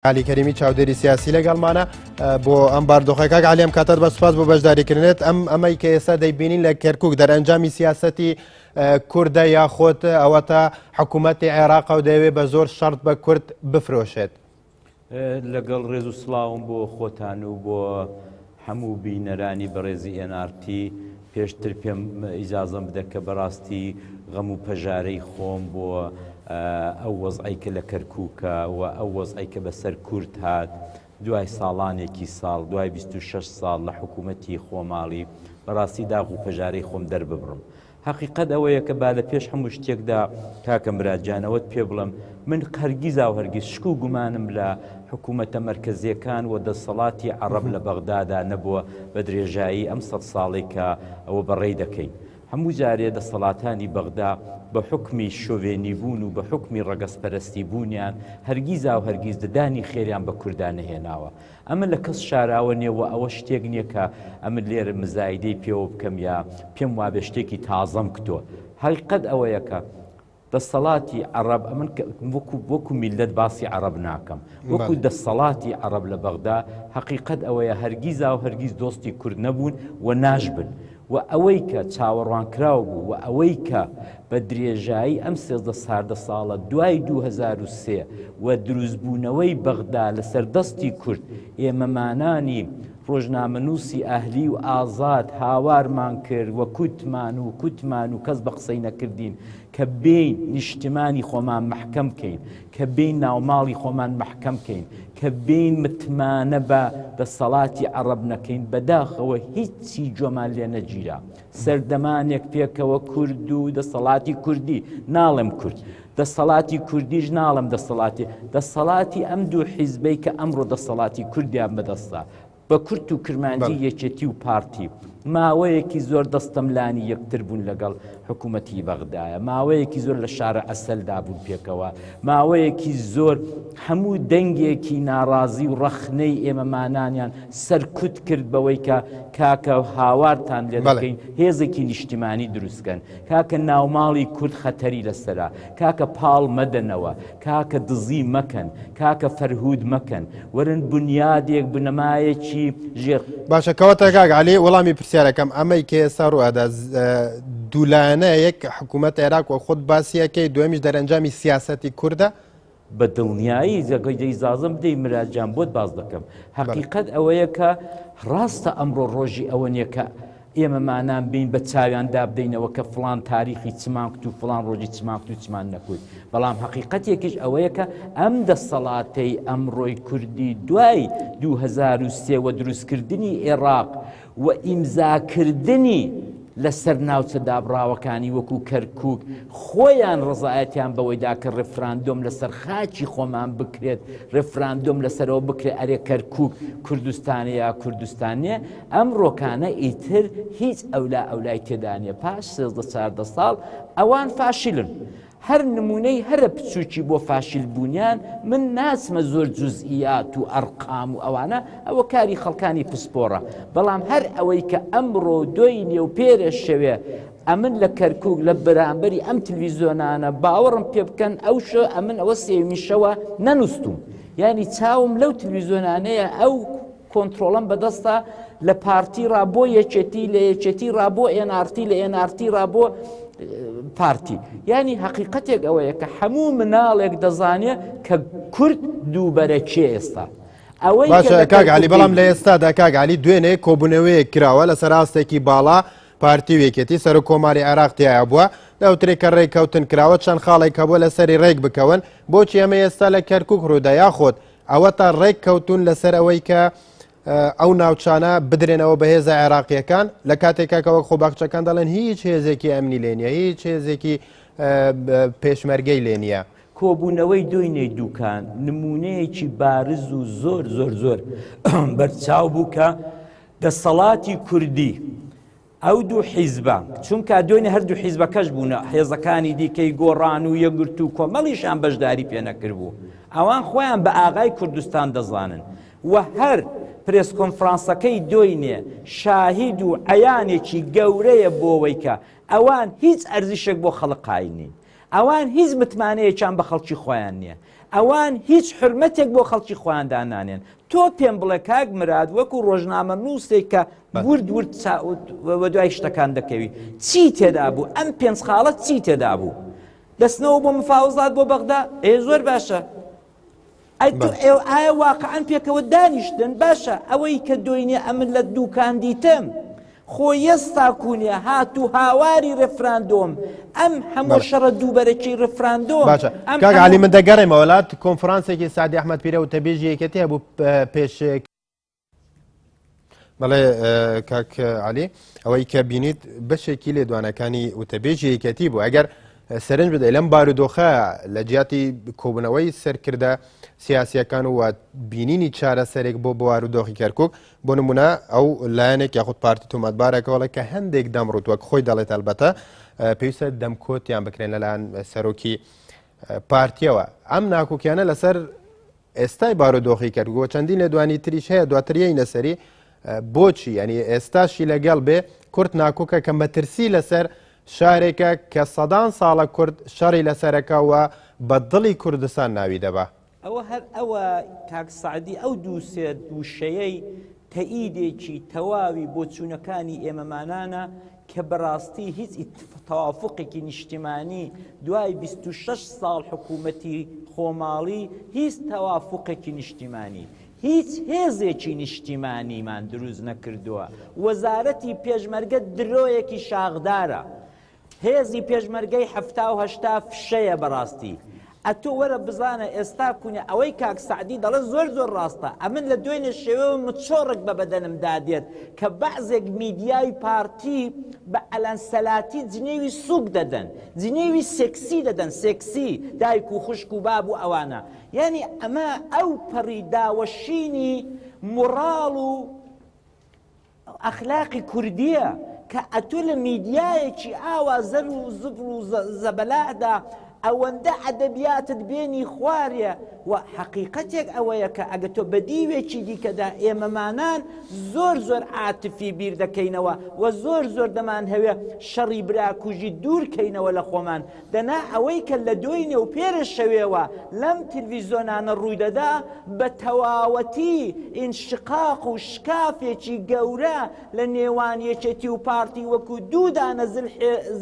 علی کەریمی چاودێری سیاسی لەگەڵمانە بۆ ئەم باردۆخی کاک علی ئەم کاتت بە سوپاس بۆ بەشداریکردنێت ئەم ئەمەی کە ئێستا دەیبینین لە کەرکک دەرەنجامی سیاستی کووردە یاخۆت ئەوە تا حکوومەتتی عێراق و دەیەوێت بە زۆر شەرت بە کورد بفرۆشێت لەگەڵ ڕێز و سلااوم بۆ خۆتان و بۆ هەموو بینەرانی بەڕێزی ئێن ئاڕ تی، پێشتر پێم ئیجازەم بدە کە بەڕاستی غەم و پەژارەی خۆم بۆ ئەو وەزعەی کە لە کەرکووکە و ئەو وەزعەی کە بە سەر کورد هات دوای ساڵانێکی ساڵ، دوای بیست و شەش ساڵ لە حکوومەتی خۆماڵی، بەڕاستی داغ و پەژارەی خۆم دەرببڕم. هەقیقەت ئەوەیە کە با لە پێش هەموو شتێکدا کاکە مراد جان ئەوەت پێ بڵێم، من هەرگیزا و هەرگیز شک و گومانم لە حکوومەتە مەرکەزییەکان و دەسەڵاتی عەڕەب لە بەغدادا نەبووە بە درێژایی ئەم سەد ساڵەی کە ئەوە بەڕێی دەکەیت. هەموو جارێ دەسەڵاتانی بەغدا بە حوکمی شۆڤێنیبوون و بە حوکمی ڕەگەزپەرەستیبوونیان هەرگیزا و هەرگیز ددانی خێریان بە کوردا نەهێناوە. ئەمن لە کەس شاراوە نیە وە ئەوە شتێک نیە کە ئەمن لێرە مزایدەی پێوە بکەم یا پێم وابێ شتێکی تازەم کتوە هەقیقەت ئەوەیە کە دەسەڵاتی عەڕەب ئەمن وەکو وەکو میللەت باسی عەڕەب ناکەم وەکو دەسەڵاتی عەڕەب لە بەغدا هەقیقەت ئەوەیە هەرگیزاو هەرگیز دۆستی کورد نەبوون و ناشبن و ئەوەی کە چاوەڕوانکراو بوو و ئەوەی کە بە درێژایی ئەم سێزدە ساردە ساڵە دوای دوو هەزار و سێ و دروستبوونەوەی بەغدا لەسەر دەستی کورد ئێمەمانانی ڕۆژنامەنووسی ئەهلی و ئازاد هاوارمان کرد و کوتمان و کوتمان و کەس بە قسەی نەکردین کە بێین نیشتمانی خۆمان مەحکەم کەین کە بێین ناوماڵی خۆمان مەحکەم کەین، کە بێین متمانە بە دەسەڵاتی عەڕەب نەکەین، بەداخەوە هیچی جۆمان لێ نەگیرا. سەردەمانێک پێکەوە کورد و دەسەڵاتی کوردی، ناڵێم کورد، دەسەڵاتی کوردیش ناڵێم دەسەڵاتی، دەسەڵاتی ئەم دوو حیزبەی کە ئەمڕۆ دەسەڵاتی کوردیان بەدەستە، بە کورت و کرمانجی یەکێتی و پارتی ماوەیەکی زۆر دەستەملانی یەکتر بوون لەگەڵ حکوومەتی بەغدایە ماوەیەکی زۆر لە شارە ئەسەلدا بوون پێکەوە ماوەیەکی زۆر هەموو دەنگێکی ناڕازی و ڕەخنەی ئێمەمانانیان سەرکوت کرد بەوەی کە کاکە هاوارتان لێ بەڵێ. بکەین هێزێکی نیشتیمانی دروستکەن کاکە ناوماڵی کورد خەتەری لەسەرە کاکە پاڵ مەدەنەوە کاکە دزی مەکەن کاکە فەرهود مەکەن وەرن بنیادێک بنەمایەکی ژێر باشە کەواتە کاک علی وەڵامی پرسیارەکەم ئەمەی کە ئێستا ڕوئەدا دوولایەنە یەک حکوومەت عێراق و خۆت باسیەکەی دوێمیش دەرەنجامی سیاسەتی کووردە بە دڵنیایی زەگەی دە ئیزازم بدەی مرا جان بۆت باس دەکەم هەقیقەت ئەوەیە کە ڕاستە ئەمڕۆ ڕۆژی ئەوە نیە کە ئێمە مانان بین بە چاویان دابدەینەوە کە فلان تاریخی چمان کت و فلان ڕۆژی چمان کت و چمان نەکوت بەڵام حقیقەت یەکیش ئەوەیە کە ئەم دەسەڵاتەی ئەمڕۆی کوردی دوای 2023 دروستکردنی عێراق و ئیمزاکردنی لەسەر ناوچە دابڕاوەکانی وەکو کەرکوک خۆیان ڕزایەتیان بەوەیدا کە ڕفراندۆم لەسەر خاچی خۆمان بکرێت ڕفراندۆم لەسەرەوە بکرێت ئەرێ کەرکوک کوردستانە یا کوردستانە ئەم ڕۆکانە ئیتر هیچ ئەولا ئەولای تێدانە پاش سێزدە چاردە ساڵ ئەوان فاشلن هەر نمونەی هەرە بچوکی بۆ فاشیل بونیان من ناچمە زۆر جوزئیات و ئەرقام و ئەوانە ئەوە کاری خەڵکانی پسپۆڕە بەڵام هەر ئەوەی کە ئەمڕۆ دۆینێ و پێرە شەوێ ئەمن لە کەرکک لە بەرامبەری ئەم تلویزیۆنانە باوەڕم پێ بکەن ئەو شە ئەمن ئەوە سێویشەوە نەنووسم ینی چاوم لەو تلویزیۆنانەیە ئەو کۆنترۆڵم بەدەستە لە پارتی ڕا بۆ یەکێتی لە یەکێتی ڕا بۆ ئێنارتی لە ئێنارتی ڕا بۆ پارتی ینی حقیقەتێک ئەوەیە کە هەموو مناڵێک دەزانێت کە کورد دووبەرە چێ ئێستا ئەوەی کاگالی بەڵام لە ئێستادا کاگالی دوێنێ کۆبوونەوەیەک کراوە لە سەراستێکی باڵا پارتی وێکێتی سەر و کۆماری عێراق تایە بووە دەوترێک کە ڕێککەوتن کراوە چەند خاڵێک هەبووە لە سەری ڕێک بکەون بۆچی ئەمە ئێستا لە کەرکک ڕوودا یاخۆت ئەوەتا ڕێک کەوتون لەسەر ئەوەی کە ئەو ناوچانە بدرێنەوە بە هێزە عێراقیەکان لە کاتێکا کە وەک خۆ باخچەکان دەڵێن هیچ هێزێکی ئەمنی لێ نیە هیچ هێزێکی پێشمەرگەی لێ نیە. کۆبوونەوەی دۆینەی دووکان نمونەیەکی بارز و زۆر زۆر زۆر بەرچاو بوو کە دەسەڵاتی کوردی ئەو دوو حیزبە، چونکا دوێنێ هەردوو حیزبەکەش بوون، هێزەکانی دیکەی گۆڕان و یەکگرتوو و کۆمەڵیشان بەشداری پێ نەکردبوو. ئەوان خۆیان بە ئاغای کوردستان دەزانن و هەر پرێس کۆنفرانسەکەی دۆینێ شاهید و عەیانێکی گەورەیە بۆوەی کە ئەوان هیچ ئەرزشێک بۆ خەڵک قایل نین. ئەوان هیچ متمانەیەکیان بە خەڵکی خۆیان نییە. ئەوان هیچ حورمەتێک بۆ خەڵکی خۆیان دانانێن تۆ پێم بڵێ کاک مراد وەکو ڕۆژنامە نووسێک کە ورد ورد وەدوای شتەکان دەکەوی چی تێدا بوو ئەم پێنج خاڵەت چی تێدا بوو دەستنەوە بۆ مفاوزات بۆ بەغدا ئێ زۆر باشە ئەی تۆ ئێو ئایا واقعان پێکەوە دانیشتن باشە ئەوەی کە دۆینێ ئەمن لە دووکاندیتم خۆ یەس تاکوونێ هات و هاواری رفراندۆم ئەم هەموو شەڕە دووبەرەکی رفراندۆ باشە کاگالی من دەگەڕێمە وڵات کۆنفرانسێکی سادی ئەحمد پیرە و تەبێژی یەکەتی هەبوو پێشێک بەڵێ کاک علی ئەوەی کە بینیت بەشێکی لێ دوانەکانی وتەبێژی یەکەتی بوو ئەگەر سەرنج بدەی لەم بارودۆخە لە جیاتی کۆبنەوەی سەرکردە سیاسیەکان و بینینی چارەسەرێک بۆ بوار و دۆخی کەرکک بۆ نمونە ئەو لایەنێک یاخود پارتی تۆمەتبارەکەەوەڵێ کە هەندێک دەم ڕوت وەک خۆی دەڵێت هەلبەتە پێویستە دەمکۆتیان بکرێن لەلاەن سەرۆکی پارتیەوە ئەم ناکۆکیانە لەسەر ئێستای بارودۆخی کردگووە چەندین لە دوانی تریش هەیە دواتریی نەسەری بۆچی ینی ئێستاشی لەگەڵ بێ کورت ناکۆکە کە مەترسی لەسەر شارێکە کە سەدان ساڵە کورد شەڕی لەسەرەکەەوە بە دڵی کوردستان ناوی دەبە ئەوە هەر ئەوە کاک سەعدی ئەو دوو سێ وشەیەی تەئیدێکی تەواوی بۆچوونەکانی ئێمەمانانە کە بەڕاستی هیچ تەوافقێکی نیشتیمانی دوای 26 ساڵ حکوومەتی خۆماڵی هیچ تەوافقێکی نیشتیمانی هیچ هێزێکی نیشتیمانیمان دروست نەکردووە وەزارەتی پێشمەرگە درۆیەکی شاخدارە هێزی پێشمەرگەی حەفتا و هەشتا فشەیە بەڕاستی ئەتۆ وەرە بزانە ئێستا کونە ئەوەی کاک سەعدی دەڵێ زۆر زۆر ڕاستە ئەمن لە دوێنێ شێوەوە مچۆڕک بە بەدەنم دادێت کە بەعزێک میدیای پارتی بە ئەلەنسەلاتی جنێوی سوک دەدەن جنێوی سێکسی دەدەن سێکسی دایک و خوشک و باب و ئەوانە یعنی ئەمە ئەو پەڕی داوەشینی مڕاڵ و ئەخلاقی کوردیە کە ئەتۆ لە میدیایەکی ئاوا زەر و زبڵ و زەبەلادا ئەوەندە ئەدەبیاتت بێنی خوارێ و حەقیقەتێک ئەوەیە کە ئەگە تۆ بە دیوێکی دیکەدا ئێمەمانان زۆر زۆر عاتفی بیر دەکەینەوە و زۆر زۆر دەمان هەوێ شەڕی براکوژی دوورکەینەوە لە خۆمان دەنا ئەوەی کە لە دوێی نێوپێرە شەوێوە لەم تلویزۆنانە ڕوویدەدا بە تەواوەتی ئینشقاق و شکافێکی گەورە لە نێوان یەکێتی و پارتی وەکو دوو دانە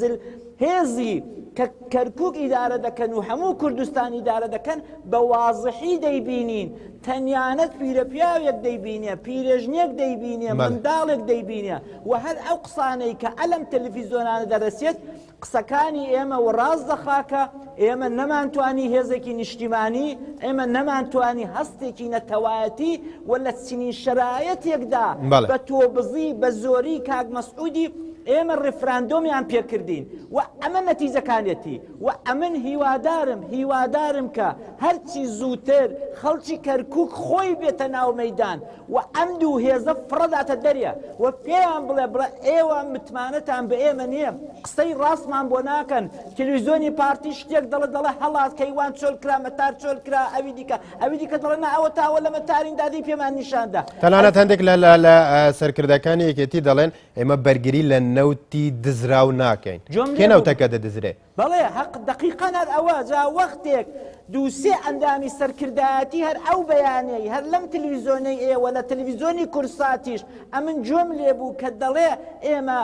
زل هێزی کە کەرکک ئیدارە دەکەن و هەموو کوردستان ئیدارە دەکەن بە وازحی دەیبینین تەنیانەت پیرە پیاوێک دەیبینێ پیرێژنێک دەیبینێ منداڵێک دەیبینێ و هەر ئەو قسانەی کە ئەلم تەلفیزۆنانە دەرەسێت قسەکانی ئێمە وڕاست دەخا کە ئێمە نەمانتوانی هێزێکی نیشتیمانی ئێمە نەمانتوانی هەستێکی نەتەوایەتی و لە چنین شەرایەتێکدا بە تۆبزی بە زۆری کاک مەسعودی ئێمە ڕفراندۆمیان پێکردین و ئەمە نەتیجەکانێتی و ئەمن هیوادارم هیوادارم کە هەرچی زووتر خەڵکی کەرکک خۆی بێتە ناو مەدان وە ئەم دوو هێزە فڕەداتە دەریا وە پێیان بڵێ بڵێ ئێوە متمانەتان بە ئێمە نییە قسەی ڕاستمان بۆ ناکەن تلویزیۆنی پارتی شتێک دەڵێ دەڵێ هەڵات کەیوان چۆل کرا مەتار چۆل کرا ئەوی دیکە ئەوی دیکە دەڵێ نا ئەوە تاوە لە مەتارین دادی پێمان نیشاندا تەنانەت هەندێک لە لە سەرکردەکانی یەکێتی دەڵێن ئێمە بەرگری لە نەوتی دزراو ناکەین کێ نەوتەکە دەدزرێت بەڵێ هەق دەقیقەن هەر ئەوە جا وەختێک دوو سێ ئەندامی سەرکردایەتی هەر ئەو بەیانەی هەر لەم تلویزۆنەی ئێوە لە تلویزۆنی کورساتیش ئەمن جوێم لێبوو کە دەڵێ ئێمە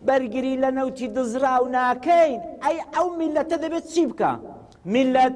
بەرگری لە نەوتی دزراو ناکەین ئەی ئەو میلەتە دەبێت چی بکا میلەت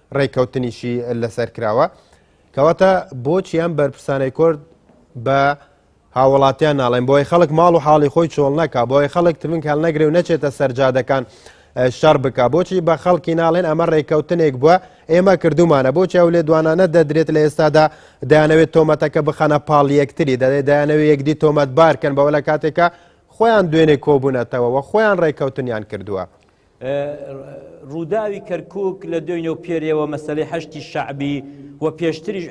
ڕێککەوتنیشی لەسەر کراوە کەواتە بۆچی ئەم بەرپرسانەی کورد بە هاوڵاتیان ناڵێن بۆی خەڵک ماڵ و حاڵی خۆی چۆڵ نەکە بۆی خەڵک ترمنگ هەل نەگرێ و نەچێتە سەرجادەکان شەڕ بکە بۆچی بە خەڵکی ناڵێن ئەمە ڕێککەوتنێک بووە ئێمە کردومانە بۆچی ئەو لێ دوانانە دەدرێت لە ئێستادا دەیانەوێت تۆمەتەکە بخەنە پاڵ یەکتری دەێت دەیانەوێت یەکدی تۆمەت بارکەن بەوە لە کاتێکە خۆیان دوێنێ کۆبوونەتەوە و خۆیان ڕێککەوتنیان کردووە ڕووداوی کەرکک لە دوێنێ و پێرێەوە مەسلەی هەشتی شعبی و پێشتریش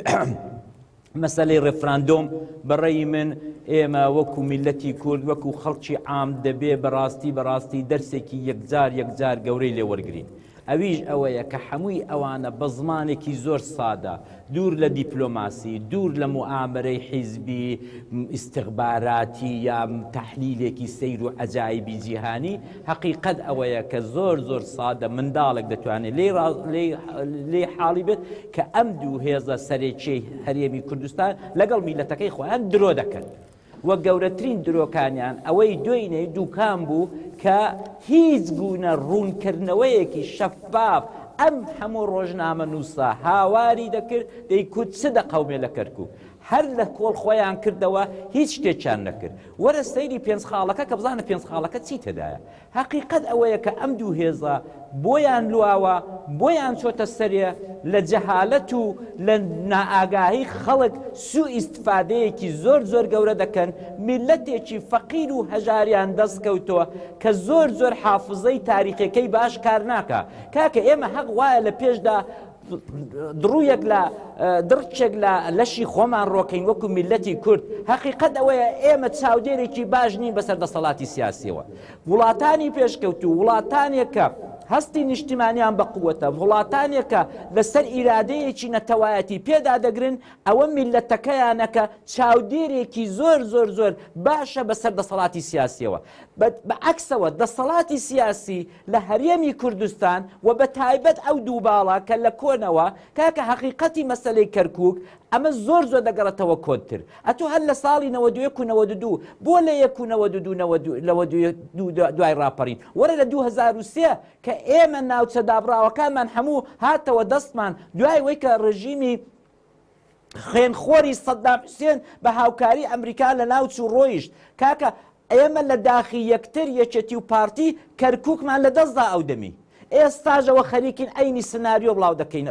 مەسلەی ڕفراندۆم بەڕێی من ئێمە وەکو میلەتی کورد وەکو خەڵکی عام دەبێ بەڕاستی بەڕاستی دەرسێکی یەکجار یەکجار گەورەی لێوەرگین ئەویش ئەوەیە کە هەمووی ئەوانە بە زمانێکی زۆر سادە دوور لە دیپلۆماسی، دوور لە موئامەرەی حیزبی، ئیستخباراتی یا تەحلیلێکی سەیر و عەجایبی جیهانی، هەقیقەت ئەوەیە کە زۆر زۆر سادە منداڵێک دەتوانێت لێی ڕا لێی لێی حاڵی بێت کە ئەم دوو هێزە سەرەکیەی هەرێمی کوردستان لەگەڵ میللەتەکەی خۆیان درۆ دەکەن. وە گەورەترین درۆکانیان ئەوەی دوێنێی دووکان بوو کە هیچ گونە ڕوونکردنەوەیەکی شەفاف ئەم هەموو ڕۆژنامەنووسە هاواری دەکرد دەیکوت چ دەقەومێ لە کەرکوک هەر لە کۆڵ خۆیان کردەوە هیچ شتێکیان نەکرد وەرە سەیری پێنج خاڵەکە کە بزانە پێنج خاڵەکە چی تێدایە هەقیقەت ئەوەیە کە ئەم دوو هێزە بۆیان لواوە، بۆیان چۆتە سەرێ، لە جەهالەت و لە نائاگاهی خەڵک سوو ئیستفادەیەکی زۆر زۆر گەورە دەکەن، میللەتێکی فەقیر و هەژاریان دەست کەوتوە کە زۆر زۆر حافزەی تاریخێکەی باش کار ناکا، کاکە ئێمە هەق وایە لە پێشدا، دڕوویەک لە دڕچێک لە لەشی خۆمان ڕۆکەین وەکو میلەتی کورد هەقیقەت ئەوەیە ئێمە چاودێرێکی باش نین بەسەر دەسەڵاتی سیاسیەوە وڵاتانی پێشکەوتو وڵاتانێکە هەستی نیشتیمانیان بە قووەتە وڵاتانێکە لەسەر ئیرادەیەکی نەتەوایەتی پێدا دەگرن ئەوە میلەتەکەیانەکە چاودێرێکی زۆر زۆر زۆر باشە بەسەر دەسەڵاتی سیاسیەوە بە عکسەوە دەسەڵاتی سیاسی لە هەرێمی کوردستان و بە تایبەت ئەو دوو باڵە کە لە کۆنەوە کاکە هەقیقەتی مەسەلەی کەرکوک ئەمە زۆر زۆر دەگەڕێتەوە کۆنتر ئەتو هەر لە ساڵی نەوەد و یەک و نەوەد و دوو بۆ لە یەک و نەوەد و دوو نەوەد و نەوەد و یەک دوو دوای ڕاپەڕین وەرە لە دوو هەزار و سێ کە ئێمە ناوچە دابڕاوەکانمان هەموو هاتەوە دەستمان دوای وەی کە ڕێژیمی خوێنخۆری سەدام حوسێن بە هاوکاری ئەمریکا لە ناو چوو ڕۆیشت کاکە ئێمە لە داخی یەکتر یەکێتی و پارتی کەرکووکمان لە دەستدا ئەو دەمی ئێستاژەوە خەریکین ئەینی سناریۆ بڵاو دەکەین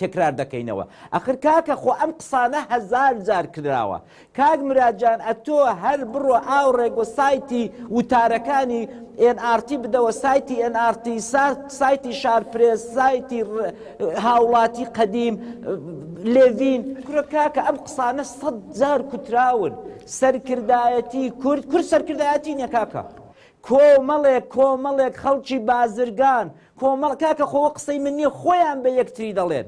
تکرار دەکەینەوە ئەخر کاکە خۆ ئەم قسانە هەزار جار کراوە کاک مراد جان ئەتۆ هەر بڕۆ ئاوڕێک وە سایتی وتارەکانی ئێن ئارتی بدەوە سایتی ئێن ئارتی سایتی شارپرێس سایتی هاوڵاتی قەدیم لێڤین کورە کاکە ئەم قسانە سەد جار کوتراون سەرکردایەتی کورد کورد سەرکردایەتی نیە کاکە کۆمەڵێک کۆمەڵێک خەڵکی بازرگان کۆمەڵ کاکە خۆوە قسەی من نیە خۆیان بە یەکتری دەڵێن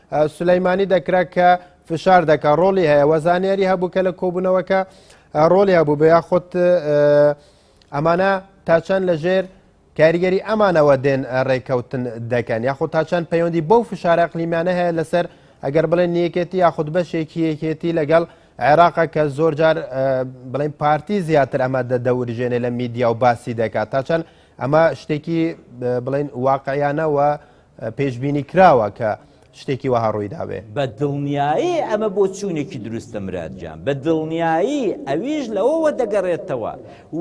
سولەیمانی دەکرا کە فشار دەکە ڕۆلی هەیە وە زانیاری هەبوو کە لە کۆبوونەوەکە ڕۆلی هەبوو بە یاخۆت ئەمانە تاچەند لە ژێر کاریگەری ئەمانەوە دێن ڕێککەوتن دەکەن یاخۆ تاچەند پەیوەندی بەو فشارە قلیمانە هەیە لەسەر ئەگەر بڵێن یەکێتی یاخود بەشێکی یەکێتی لەگەڵ عێراقە کە زۆر جار بڵین پارتی زیاتر ئەمە دەدەورژێنێ لە میدیا و باسی دەکات تاچەند ئەمە شتێکی بڵین واقعیانەوە پێشبینی کراوە کە شتێکی وەها ڕووی دابێ بە دڵنیایی ئەمە بۆ چوونێکی دروستە مرادجان بە دڵنیایی ئەویش لەوەوە دەگەڕێتەوە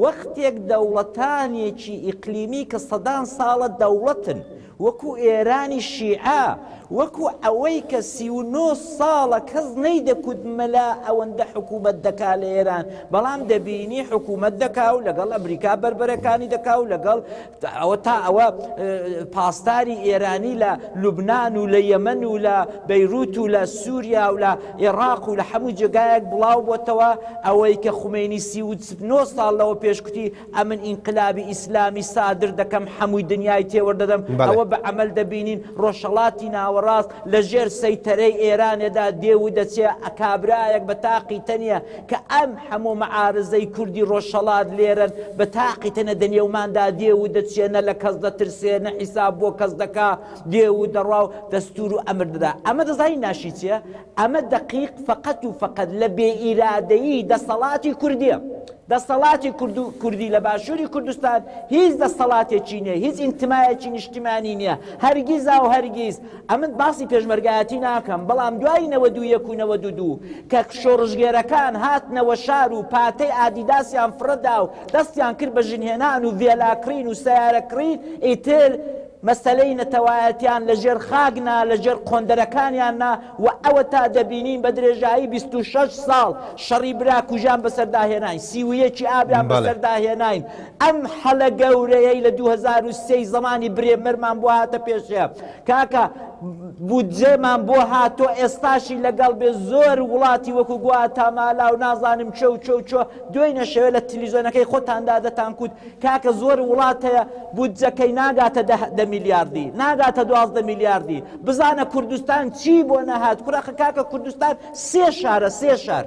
وەختێک دەوڵەتانێکی ئیقلیمی کە سەدان ساڵە دەوڵەتن وەکو ئێرانی شیعە وەکو ئەوەی کە سی و نۆ ساڵە کەس نەی دەکوت مەلا ئەوەندە حکوومەت دەکا لە ئێران بەڵام دەبینی حکوومەت دەکا و لەگەڵ ئەمریکا بربەرەکانی دەکا و لەگەڵ ئەوە تا ئەوە پاسداری ئێرانی لە لوبنان و لە یەمەن و لە بەیروت و لە سووریا و لە ئێراق و لە هەموو جێگایەک بڵاو بۆتەوە ئەوەی کە خومەینی سی و نۆ ساڵ لەوە پێشکوتی ئەمن ئینقلابی ئیسلامی سادر دەکەم هەمووی دنیای تێوەردەدەم ئەوە بە عمل دەبینین ڕۆژهڵاتی ناوەڕاست لە ژێر سەیتەرەی ئێرانێدا دێ و دەچێ ئەکابرایەک بە تاقی تەنیە کە ئەم هەموو مەعارزەی کوردی ڕۆژهەڵات لێرەن بە تاقی تەنە دە نێوماندا دێ و دەچێ نە لە کەس دەترسێ نە حیساب بۆ کەس دەکا دێ و دەڕوا و دەستوور و ئەمر دەدا ئەمە دەزانی ناشی چییە ئەمە دەقیق فەقەت و فەقەت لە بێ ئیرادەیی دەسەڵاتی کوردییە دەسەڵاتی کورد و کوردی لە باشووری کوردستان هیچ دەسەڵاتێکی نییە هیچ ئینتمایەکی نیشتمانی نییە هەرگیزا و هەرگیز ئەمن باسی پێشمەرگایەتی ناکەم بەڵام دوای نەوەد و یەک و نەوەد و دوو کە شۆڕشگێرەکان هاتنەوە شار و پاتەی ئادیداسیان فڕەدا و دەستیان کرد بە ژنهێنان و ڤێلا کڕین و سەیارە کڕین ئیتر مەسەلەی نەتەوایەتیان لە ژێر خاک نا لە ژێر قۆندەرەکانیان نا و ئەوەتا دەبینین بە درێژایی بیست و شەش ساڵ شەڕی برا کوژان بەسەردا هێناین سی و یەکی ئابیان بەسەردا هێناین ئەم هەلە گەورەیەی لە دوو هەزار و سێی زەمانی برێمەرمان بۆ هاتە پێشێ کاکە بودجێمان بۆ هاتۆ ئێستاشی لەگەڵ بێ زۆر وڵاتی وەکو گووا تامالا و نازانم چۆ چۆ چۆ دوێی نەشەوێ لە تلیزۆنەکەی خۆتاندا دەتانکوت کاکە زۆر وڵات هەیە بودجەکەی ناگاتە دە میلیاردی ناگاتە دوازدە میلیاردی بزانە کوردستان چی بۆ نەهات کوراخە کاکە کوردستان سێ شارە سێ شار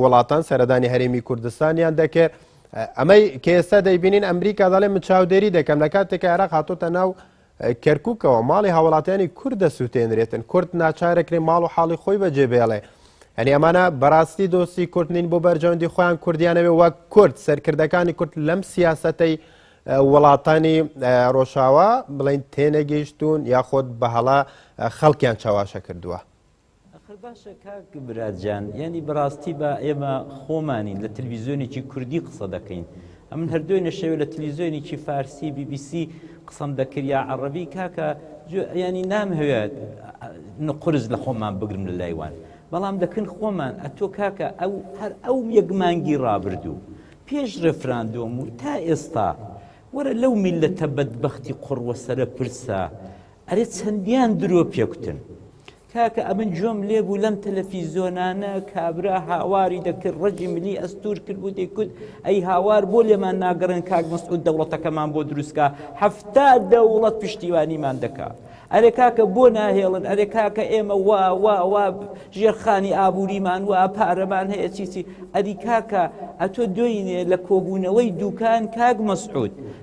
وڵاتان سەردانی هەرێمی کوردستانیان دەکرد ئەمەی کە ئێستا دەیبینین ئەمریکا دەڵێ من چاودێری دەکەم لە کاتێک عێراق هاتۆتە ناو کەرککەوە ماڵی هاوڵاتیانی کورد دەسووتێنرێتن کورد ناچارەکرێ ماڵ و حاڵی خۆی بەجێ بێڵێ ئەنی ئەمانە بەڕاستی دۆستی کورد نین بۆ بەرژەوەندی خۆیان کوردیانەوێ وەک کورد سەرکردەکانی کورد لەم سیاسەتەی وڵاتانی ڕۆژاوا بڵین تێنەگەیشتون یاخۆت بەهڵا خەڵکیان چاواشە کردووە. ئەخر باشە کاک مراد جان یانی بەڕاستی با ئێمە خۆمانین لە تلویزیۆنێکی کوردی قسە دەکەین ئەمن هەردوێ نەشەوێت لە تلویزیۆنێکی فارسی بی بی سی قسەم دەکرد یا عەڕەبی کاکە ینی نام هەوێت قرس لە خۆمان بگرم لە لایوان بەڵام دەکەن خۆمان ئەتۆ کاکە ئەو هەر ئەو یەک مانگی ڕابردوو پێش ڕێفراندۆم و تا ئێستا وەرە لەو میلەتە بەدبختی قڕوەسەرە پرسە ئەرێ چەندیان درۆ پێکوتن کاکە ئەمن جۆم لێبوو لەم تەلەفیزۆنانە کابرا هاواری دەکرد ڕەجی ملی ئەستور کرد و دەیکوت ئەی هاوار بۆ لێمان ناگەڕێن کاک مەسعود دەوڵەتەکەمان بۆ دروستکە هەفتا دەوڵەت پشتیوانیمان دەکا ئەرێ کاکە بۆ ناهێڵن ئەرێ کاکە ئێمە وا وا وا ژێرخانی ئابووریمان وا پارەمان هەیە چیچی ئەدی کاکە ئەتۆ دوینێ لە کۆبوونەوەی دوکان کاک مەسعود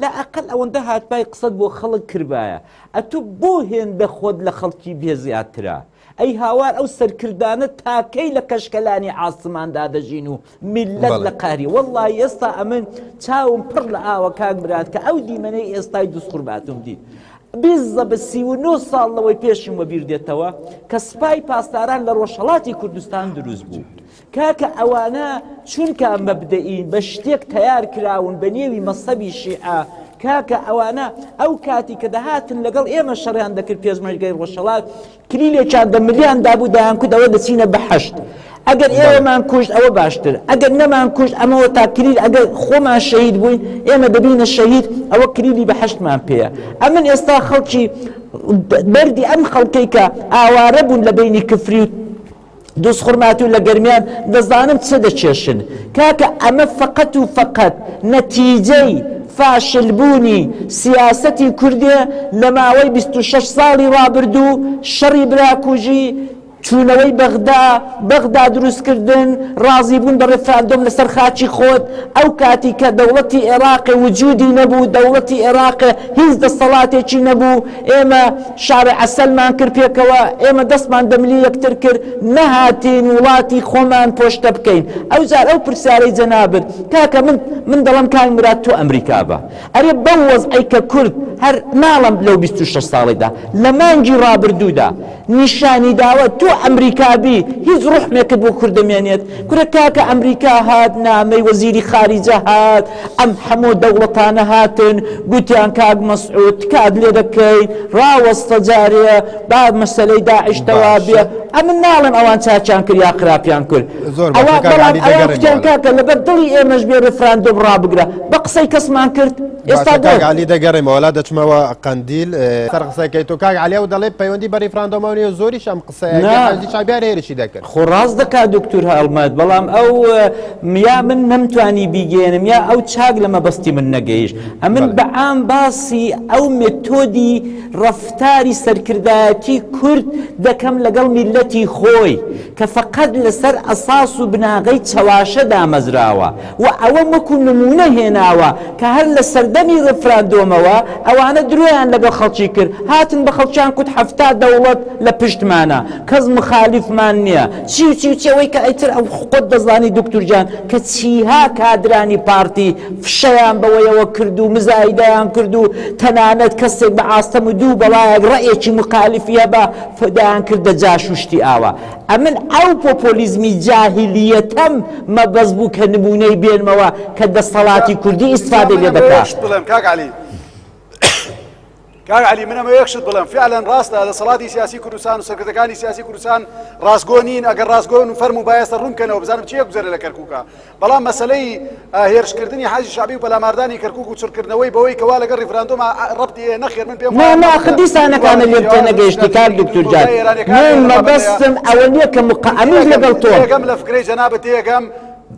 لا ئەقەل ئەوەندە هاتبای قسەت بۆ خەڵک کردبایە ئەتو بۆ هێندە خۆت لە خەڵکی بێ زیاترە ئەی هاوار ئەو سەرکردانە تا کەی لە کەشکەلانی عاسمان دا دەژین و میللەت لە قەهری وەڵڵاهی ئێستا ئەمن چاوم پڕ لە ئاوە کاک مراد کە ئەو دیمەنەی ئێستای دووس خورماتوم دیت بیزە بە سی و نۆ ساڵ لەوەی پێشم وەبیر دێتەوە کە سپای پاسداران لە ڕۆژهەڵاتی کوردستان دروست بوو کاکە ئەوانە چونکا مەبدەئین بە شتێک تەیار کراون بە نێوی مەسەبی شیعە کاکە ئەوانە ئەو کاتی کە دەهاتن لەگەڵ ئێمە شەڕیان دەکرد پێشمەرگەی ڕۆژهەڵات کلیلێکیان دە ملیان دابوو دەیان کوت ئەوە دەچینە بە حەشد ئەگەر ئێوەمان کوشت ئەوە باشتر ئەگەر نەمان کوشت ئەمەوە تا کلیل ئەگەر خۆمان شەهید بووین ئێمە دەبینە شەهید ئەوە کلیلی بە حەشتمان پێەیە ئەمن ئێستا خەڵکی بەردی ئەم خەڵکەی کە ئاوارە بوون لە بینی کفری و دز خورماتوو لە گەرمیان دەزانم چ دەکێشن کاکە ئەمە فەقەت و فەقەت نەتیجەی فاشلبوونی سیاسەتی کوردێ لە ماوەی 26 ساڵی ڕابردوو شەڕی براکوژی چوونەوەی بەغدا بەغدا دروستکردن ڕازی بوون بە ڕفراندۆم لەسەر خاچی خۆت ئەو کاتی کە دەوڵەتی عێراق وجودی نەبوو دەوڵەتی عێراق هیچ دەسەڵاتێکی نەبوو ئێمە شار عەسەلمان کرد پێکەوە، ئێمە دەستمان بە ملی یەکتر کرد، نەهاتین وڵاتی خۆمان پۆشتە بکەین. ئەوجار ئەو پرسیارەی جەنابت، کاکە من من دەڵێم کاک مراد تۆ ئەمریکا بە، ئەرێ بەو وەزعەی کە کورد هەر ناڵێم لەو بیست و شەش ساڵەیدا، لە مانگی ڕابردوودا، نیشانی داوە تۆ ئەمریکا بی هیچ روحمێکت بۆ کورد دەمێنێت کورە کاکە ئەمریکا هات نامەی وەزیری خاریجە هات ئەم حەمۆ دەوڵەتانە هاتن گوتیان کاک مەسعود تکات لێ دەکەین راوەستە جارێ با مەسەلەی داعش تەوا بێ ئەمن ناڵێم ئەوان چاچان کرد یا خراپیان کرد ئەوان بەڵام ئەوان کوتیان کاکە لەبەر دڵی ئێمەش بێ رفراندۆم رابگرە بە قسەی کەسمان کرد ئێستا کاک علی دەگەڕێمە وەلا دەچمەوە قەندیل سەر قسەکەی تۆ کاک علی و دەڵێ پەیوەندی بە ریفراندۆمانی و زۆریش ئەم قسەیشابیار هێرشی دەکرد خۆ ڕاست دەکا دکتور هەڵمەت بەڵام ئەو میا من نەمتوانی بیگەێنم یا ئەو چاک لە مەبەستی من نەگەیش ئەمن بە ئام باسی ئەو متۆدی ڕفتاری سەرکردایەتی کورد دەکەم لەگەڵ میلەتی خۆی کە فقط لەسەر ئەساس و بناغەی چەواشە دامەزراوە و ئەوەم وەکو نموونە هێناوە کە هەر لە سەردەمی ڕێفراندۆمەوە ئەوانە درۆیان لەگەڵ خەڵکی کرد هاتن بە خەڵکیان کوت حەفتا دەوڵەت لە پشتمانە کەس مخالیفمان نیە چی و چی و چی ئەوەی کە ئیتر ئەو خۆت دەزانی دوکتور گیان کە چیها کادرانی پارتی فشەیان بەوەیەوە کرد و مزایدەیان کرد و تەنانەت کەسێک بە ئاستەم و دوو بەڵایەک ڕەئێکی مخالیفی هەبا فدایان کردە جاش و شتی ئاوا ئەمن ئەو پۆپۆلیزمی جاهیلیەتەم مەبەست بوو کە نموونەی بێنمەوە کە دەستەڵاتی کوردی ئیستفادەی لێ دەکا. شت بڵێم کاک عەلی کاک عەلی منەمە یەک شت بڵێم فعلەن ڕاستە دەسەڵاتی سیاسی کوردستان و سەرکردەکانی سیاسی کوردستان ڕاستگۆ نین ئەگەر ڕاستگۆن و فەرموو بایەسە ڕوونکەنەوە بزانم چیە گوزەرە لە کەرکووکە بەڵام مەسەلەی هێرشکردنی حەشدی شەعبی و پەلاماردانی کەرکوک و چڕکردنەوەی بەوەی کە وا لەگەڵ ریفراندۆما رەبتی هەیە نەخێر من پێم وایە مەبەست نە دیسانەکانت لێم تێنەگەیشتی کاک دوکتور جان من مەبەستم ئەوە نیە کە مقە ئەمنیش لەگەڵ تۆم تێگەم لە فکرەی جەنابت تێگەم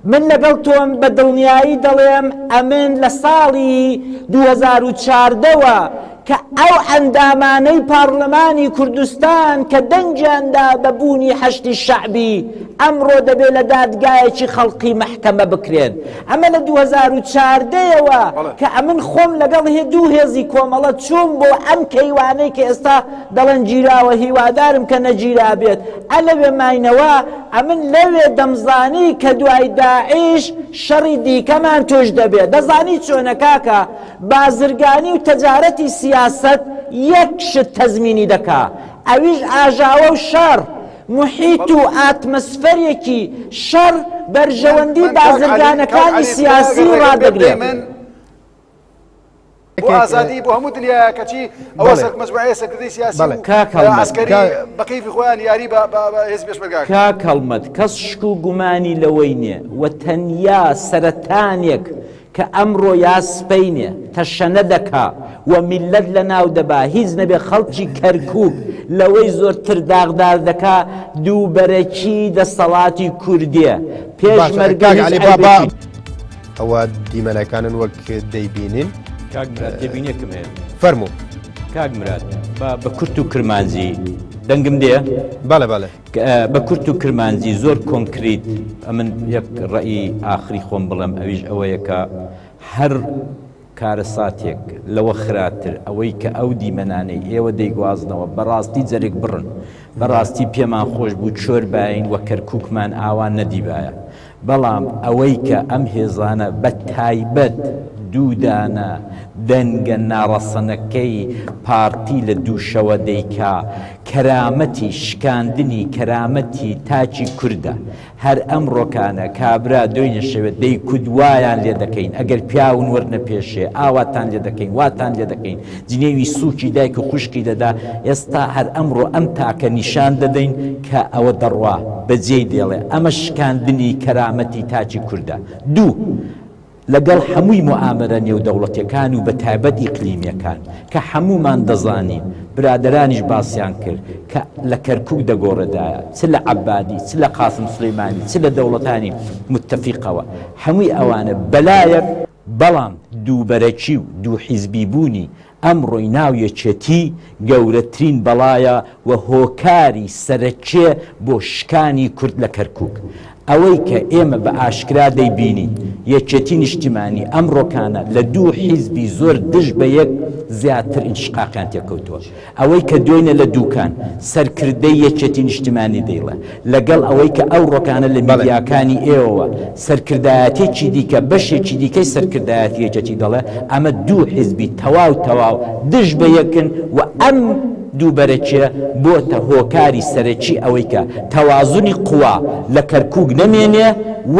من لەگەڵ تۆم بە دڵنیایی دەڵێم ئەمن لە ساڵی دوو هەزار و چواردە وە کە ئەو ئەندامانەی پارلمانی کوردستان کە دەنگیان دا بە بوونی حەشدی شەعبی، ئەمڕۆ دەبێ لە دادگایەکی خەڵقی مەحکەمە بکرێن. ئەمە لە دوو هەزار و چاردە ەوە کە ئەمن خۆم لەگەڵ هێ دوو هێزی کۆمەڵە چووم بۆ ئەم کەیوانەی کە ئێستا دەڵێن گیراوە هیوادارم کە نەگیرابێت. ئە لەوێ ماینەوە، ئەمن لەوێ دەمزانی کە دوای داعش شەڕی دیکەمان تووش دەبێ. دەزانی چۆنە کاکە؟ بازرگانی و تەجارەتی سیاسەت یەک شت تەزمینی دەکا ئەویش ئاژاوە و شەڕ، محیط و ئاتمسفەرێکی شەڕ بەرژەوەندی بازرگانەکانی سیاسی ڕادەگرێ. بۆ ئازادی بۆ هەموو دنیاە کەچی ئەوە سەر مەزبعەیە سەرکردەی سیاسی ئەسکەری بەقیفی خۆیان یاری هێز پێشمەرگا کاک هەڵمەت کەس شک و گومانی لەوەی نییە و تەنیا سەرەتانێک کە ئەمڕۆ یا سبەینێ تەشەنە دەکا و میللەت لەناو دەبا، هیچ نەبێ خەڵکی کەرکووک لەوەی زۆرتر داغدار دەکا، دووبەرەکی دەسەڵاتی کوردییە، پێشمەرگە هیچ عەیبێکی نییە. ئەوە دیمەنەکانن وەک دەیبینین. کاک مراد تێبینیەکم هەیە. فەرموو. کاک مراد با بە کورت و کرمانجی دەنگم دێ؟ بەڵێ بەڵێ. بە کورت و کرمانجی زۆر کۆنکریت ئەمن یەک ڕێی ئاخری خۆم بڵێم ئەویش ئەوەیە کە هەر کارەساتێک لەوە خراتر ئەوەی کە ئەو دیمەنانەی ئێوە دەیگوازنەوە بەڕاستی جەرگ بڕن بەڕاستی پێمان خۆش بوو چۆر باین وە کەرکووکمان ئاوا نەدیبایە بەڵام ئەوەی کە ئەم هێزانە بە تایبەت دوو دانە دەنگە ناڕەسەنەکەی پارتی لە دوو شەوە دەیکا کەرامەتی شکاندنی کەرامەتی تاکی کوردە هەر ئەم ڕۆکانە کابرا دۆینە شەوێ دەیکوت وایان لێ دەکەین ئەگەر پیاون وەرنە پێشێ ئاواتان لێ دەکەین واتان لێ دەکەین جنێوی سووکی دایک و خوشکی دەدا، ئێستا هەر ئەمڕۆ ئەم تاکە نیشان دەدەین کە ئەوە دەڕوا بە جێی دێڵێ، ئەمەش شکاندنی کەرامەتی تاکی کوردە. دوو. لەگەڵ هەمووی موئامەرە نێودەوڵەتیەکان و بە تایبەت ئیقلیمیەکان کە هەموومان دەزانین، برادەرانیش باسیان کرد کە لە کەرکوک دەگۆڕێدایە چ لە عەبادی چ لە قاسم سولەیمانی چ لە دەوڵەتانی موتەفیقەوە هەمووی ئەوانە بەلایەک، بەڵام دووبەرەکی و دوو حیزبی بوونی ئەمڕۆی ناو یەکێتی گەورەترین بەڵایە و هۆکاری سەرەکیە بۆ شکانی کورد لە کەرکوک. ئەوەی کە ئێمە بە ئاشکرا دەیبینین یەکێتی نیشتیمانی ئەمڕۆکانە لە دوو حیزبی زۆر دژ بە یەک زیاتر ئینشقاقیان تێکەوتووە. ئەوەی کە دوێنێ لە دوکان، سەرکردەی یەکێتی نیشتیمانی دەیڵێ، لەگەڵ ئەوەی کە ئەوڕۆکانە لە میدیاکانی ئێوەوە، سەرکردایەتێکی دیکە، بەشێکی دیکەی سەرکردایەتی یەکێتی دەڵێ، ئەمە دوو حیزبی تەواو تەواو دژ بە یەکن و ئەم دوو بەرەکییە بۆتە هۆکاری سەرەکی ئەوەی کە تەوازنی قووا لە کەرکووک نەمێنێ و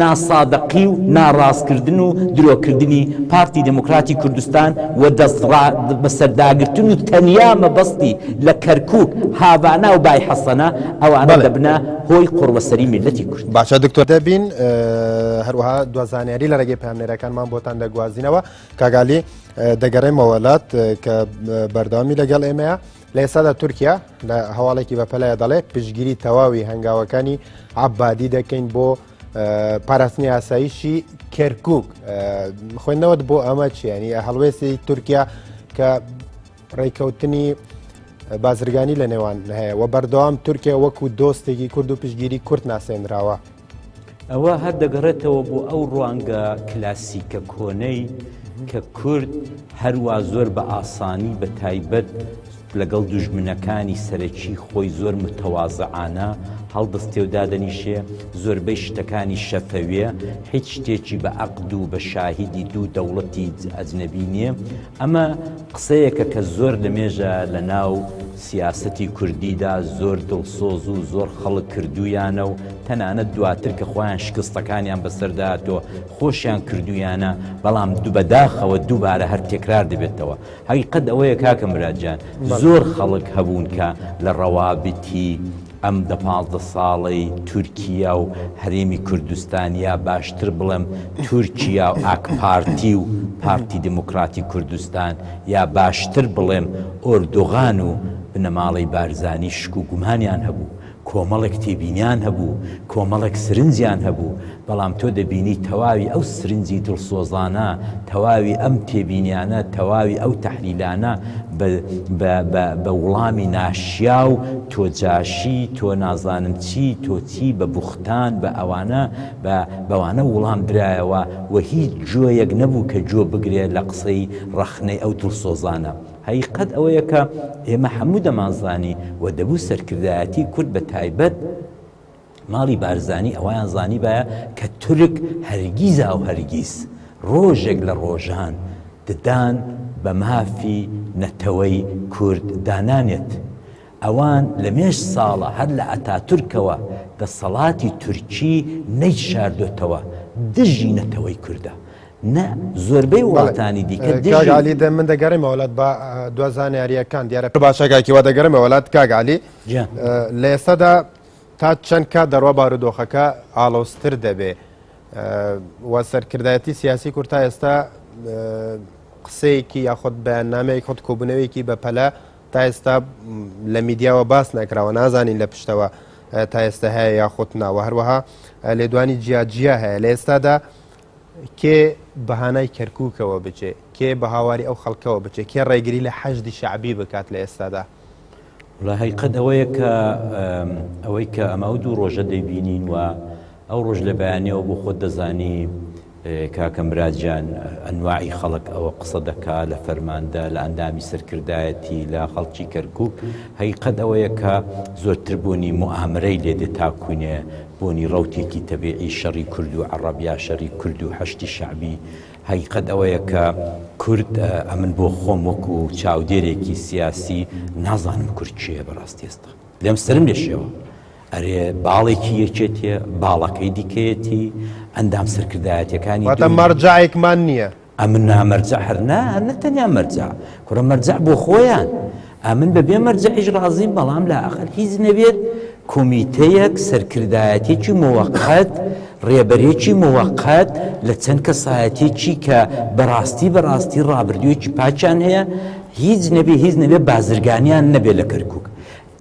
ناسادەقی و ناڕاستکردن و درۆکردنی پارتی دیموکراتی کوردستان و دەستڕاد بەسەرداگرتن و تەنیا مەبەستی لە کەرکوک، هاڤانا و بای حەسەنە، ئەوانە دەبنە هۆی قوڕبەسەری میللەتی کورد. باشە دکتۆر دەبین هەروەها دو زانیاری لە رێگەی پامنێرەکانمان بۆتان دەگوازینەوە کاگالی دەگەڕێمەوەلات کە بەردەوامی لەگەڵ ئێمەیە لە ئێستادا تورکیا لە هەواڵێکی بەپەلای دەڵێ پشگیری تەواوی هەنگاوەکانی عبادی دەکەین بۆ پاراستنی ئاسایشی کەرکک خوێندنەوەت بۆ ئەمە چیانی هەڵوێستی تورکیا کە ڕێککەوتنی بازرگانی لە نێوان هەیە و بەردەوام تورکیا وەکو دۆستێکی کورد و پشگیری کورت ناسێنراوە ئەوە هەر دەگەڕێتەوە بۆ ئەو ڕوانگە کلاسیکە کۆنەی کە کورد هەروە زۆر بە ئاسانی بە تایبەت لەگەڵ دوژمنەکانی سەرەکی خۆی زۆر متەوازعانە هەڵدەستێ و دادەنیشێ، زۆربەی شتەکانی شەفەویە، هیچ شتێکی بە ئەقد و بە شاهیدی دوو دەوڵەتی ئەجنەبی نییە. ئەمە قسەیەکە کە زۆر لەمێژە لە ناو سیاسەتی کوردیدا زۆر دڵسۆز و زۆر خەڵک کردوویانە و تەنانەت دواتر کە خۆیان شکستەکانیان بەسەردا هاتووە خۆشیان کردوویانە، بەڵام بەداخەوە دووبارە هەر تێکرار دەبێتەوە. هەقیقەت ئەوەیە کاکە مراد جان زۆر خەڵک هەبوون کە لە ڕەوابتی ئەم دە پازدە ساڵەی تورکیا و هەرێمی کوردستان یا باشتر بڵێم تورکیا و ئاکپارتی و پارتی دیموکراتی کوردستان یا باشتر بڵێم ئۆردوغان و بنەماڵەی بارزانی شک و گومانیان هەبوو کۆمەڵێک تێبینیان هەبوو، کۆمەڵێک سرنجیان هەبوو، بەڵام تۆ دەبینی تەواوی ئەو سرنجی دڵسۆزانە، تەواوی ئەم تێبینیانە، تەواوی ئەو تەحلیلانە بە بە بە بە وڵامی ناشیاو، تۆ جاشی، تۆ نازانم چی، تۆ چی، بە بوختان، بە ئەوانە، بە بەوانە وڵام درایەوە و هیچ گوێیەک نەبوو کە گوێ بگرێ لە قسەی ڕەخنەی ئەو دڵسۆزانە. هەقیقەت ئەوەیە کە ئێمە هەموو دەمانزانی و دەبوو سەرکردایەتی کورد بە تایبەت ماڵی بارزانی ئەوەیان زانیبایە کە تورک هەرگیزاو هەرگیز ڕۆژێک لە ڕۆژان ددان بە مافی نەتەوەی کورد دا نانێت ئەوان لە مێژ ساڵە هەر لە ئەتاتورکەوە دەسەڵاتی تورکی نەیشاردۆتەوە دژی نەتەوەی کوردە نە زۆربەی بەڵێ وڵاتانی دیکە کاک دژی عەلی دە من دەگەڕێمە وەلات با دوا زانیاریەکان دیارە پرە باشە کاک هیوا دەگەرێمە وەلات کاک عەلی جا لە ئێستادا تا چەند کات دەڕوا بارودۆخەکە ئاڵۆزتر دەبێ و سەرکردایەتی سیاسی کورد تا ئێستا قسەیەکی یاخود بەیاننامەیەک خود کۆبوونەوەیەکی بەپەلە تا ئێستا لە میدیاوە باس نەکراوە نازانین لە پشتەوە تا ئێستا هەیە یاخود ناوە هەروەها لێدوانی جیاجیا هەیە لە ئێستادا کێ بەهانای کەرکووکەوە بچێ کێ بە هاواری ئەو خەڵکەوە بچێ کێ ڕێگری لە حەشدی شعبی بکات لە ئێستادا لە هەیقەت ئەوەیە کە ئەوەی کە ئەمە و دوو ڕۆژە دەیبینین و ئەو ڕۆژ لە بەیانیەوە بۆ خۆت دەزانی کاکە مراد جان ئەنواعی خەڵک ئەوە قسە دەکا لە فەرماندە لە ئەندامی سەرکردایەتی لە خەڵکی کەرکک هەیقەت ئەوەیە کە زۆرتر بوونی موامرەی لێ دێ تاکوینێ بوونی ڕوتێکی تەبیعی شەڕی کورد و عەڕەب یا شەری کورد و حەشتی شەعبی هەیقەت ئەوەیە کە کورد ئەمن بۆ خۆم وەکو چاودێرێکی سیاسی نازانم کورد کێ بەڕاستی ئێستا لێم سرم لێ شێوە ئەرێ باڵێکی یەکێتیە باڵەکەی دیکەیەتی ئەندام سەرکردایەتەکانی واتە مەرجعێکمان نییە ئەمن نامەرجە هەر نا هەر نەتەنیا مەرجە کورە مەرجە بۆ خۆیان ئەمن بە بێ مەرجەعیش ڕازی بەڵام لە ئەخەر هیچ نەبێت کۆمیتەیەک سەرکردایەتێکی مۆقەت ڕێبەرێکی مۆقەت لە چەند کەسایەتێکی کە بەڕاستی بەڕاستی ڕابردوویەکی پاچان هەیە هیچ نەبێ هیچ نەبێ بازرگانیان نەبێ لە کەرکک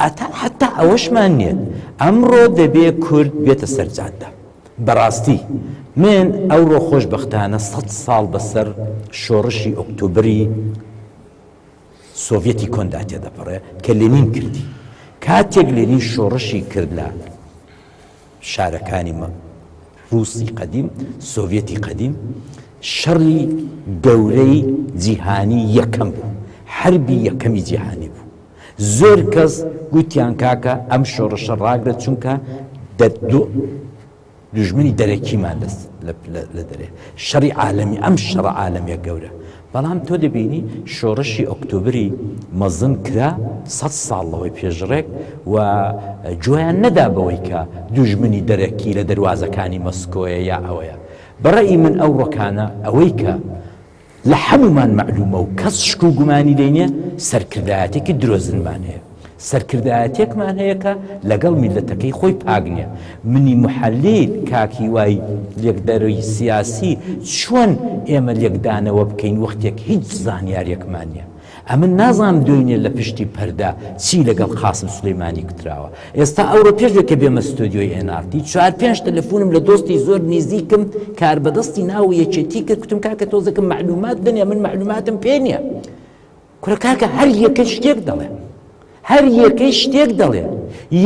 ئەتا حەتا ئەوەشمان نیە ئەمڕۆ دەبێ کورد بێتە سەر جادە بەڕاستی من ئەوڕۆ خۆش بەختانە سەد ساڵ بەسەر شۆڕشی ئۆکتۆبری سۆڤەتی کۆندا تێدەپەڕێ کە لێنین کردی کاتێک لێنین شۆڕشی کرد لە شارەکانی ڕووسی قەدیم، سۆڤیەتی قەدیم، شەڕی گەورەی جیهانی یەکەم بوو، حەربی یەکەمی جیهانی بوو. زۆر کەس گوتیان کاکە ئەم شۆڕشە ڕاگرە چونکە دوژمنی دەرەکیمان لە دەرێ، شەڕی عالەمی، ئەم شەڕە عالەمیە گەورە بەڵام تۆ دەبینی شۆڕشی ئۆکتۆبری مەزن کرا سەد ساڵ لەوەی پێشڕێک و گوێیان نەدا بەوەی کە دوژمنی دەرەکی لە دەروازەکانی مەسکۆیە یا ئەوەیە. بە ڕەئی من ئەو ڕۆکانە ئەوەی کە لە حەموومان مەعلوومە و کەس شک و گومانی لێی نیە سەرکردایەتێکی درۆزنمان هەیە. سەرکردایەتێکمان هەیە کە لەگەڵ میللەتەکەی خۆی پاک نیە. منی محەلیل کاک هیوای لێکدەرەوی سیاسی چۆن ئێمە لێکدانەوە بکەین وەختێک هیچ زانیارێکمان نیە. ئەمن نازانم دوێنێ لە پشتی پەردە چی لەگەڵ قاسم سولەیمانی گوتراوە. ئێستا ئەوڕۆ پێشێ کە بێمە ستۆدیۆی ئێن ئاڕ تی چوار پێنج تەلەفونم لە دۆستی زۆر نیزیکم کاربەدەستی ناو یەکێتی کرد کوتم کاکە تۆزەکە مەعلومات بنێ من مەعلوماتم پێ نیە. کورە کاکە هەر یەکەی شتێک دەڵێ هەر یەکەی شتێک دەڵێ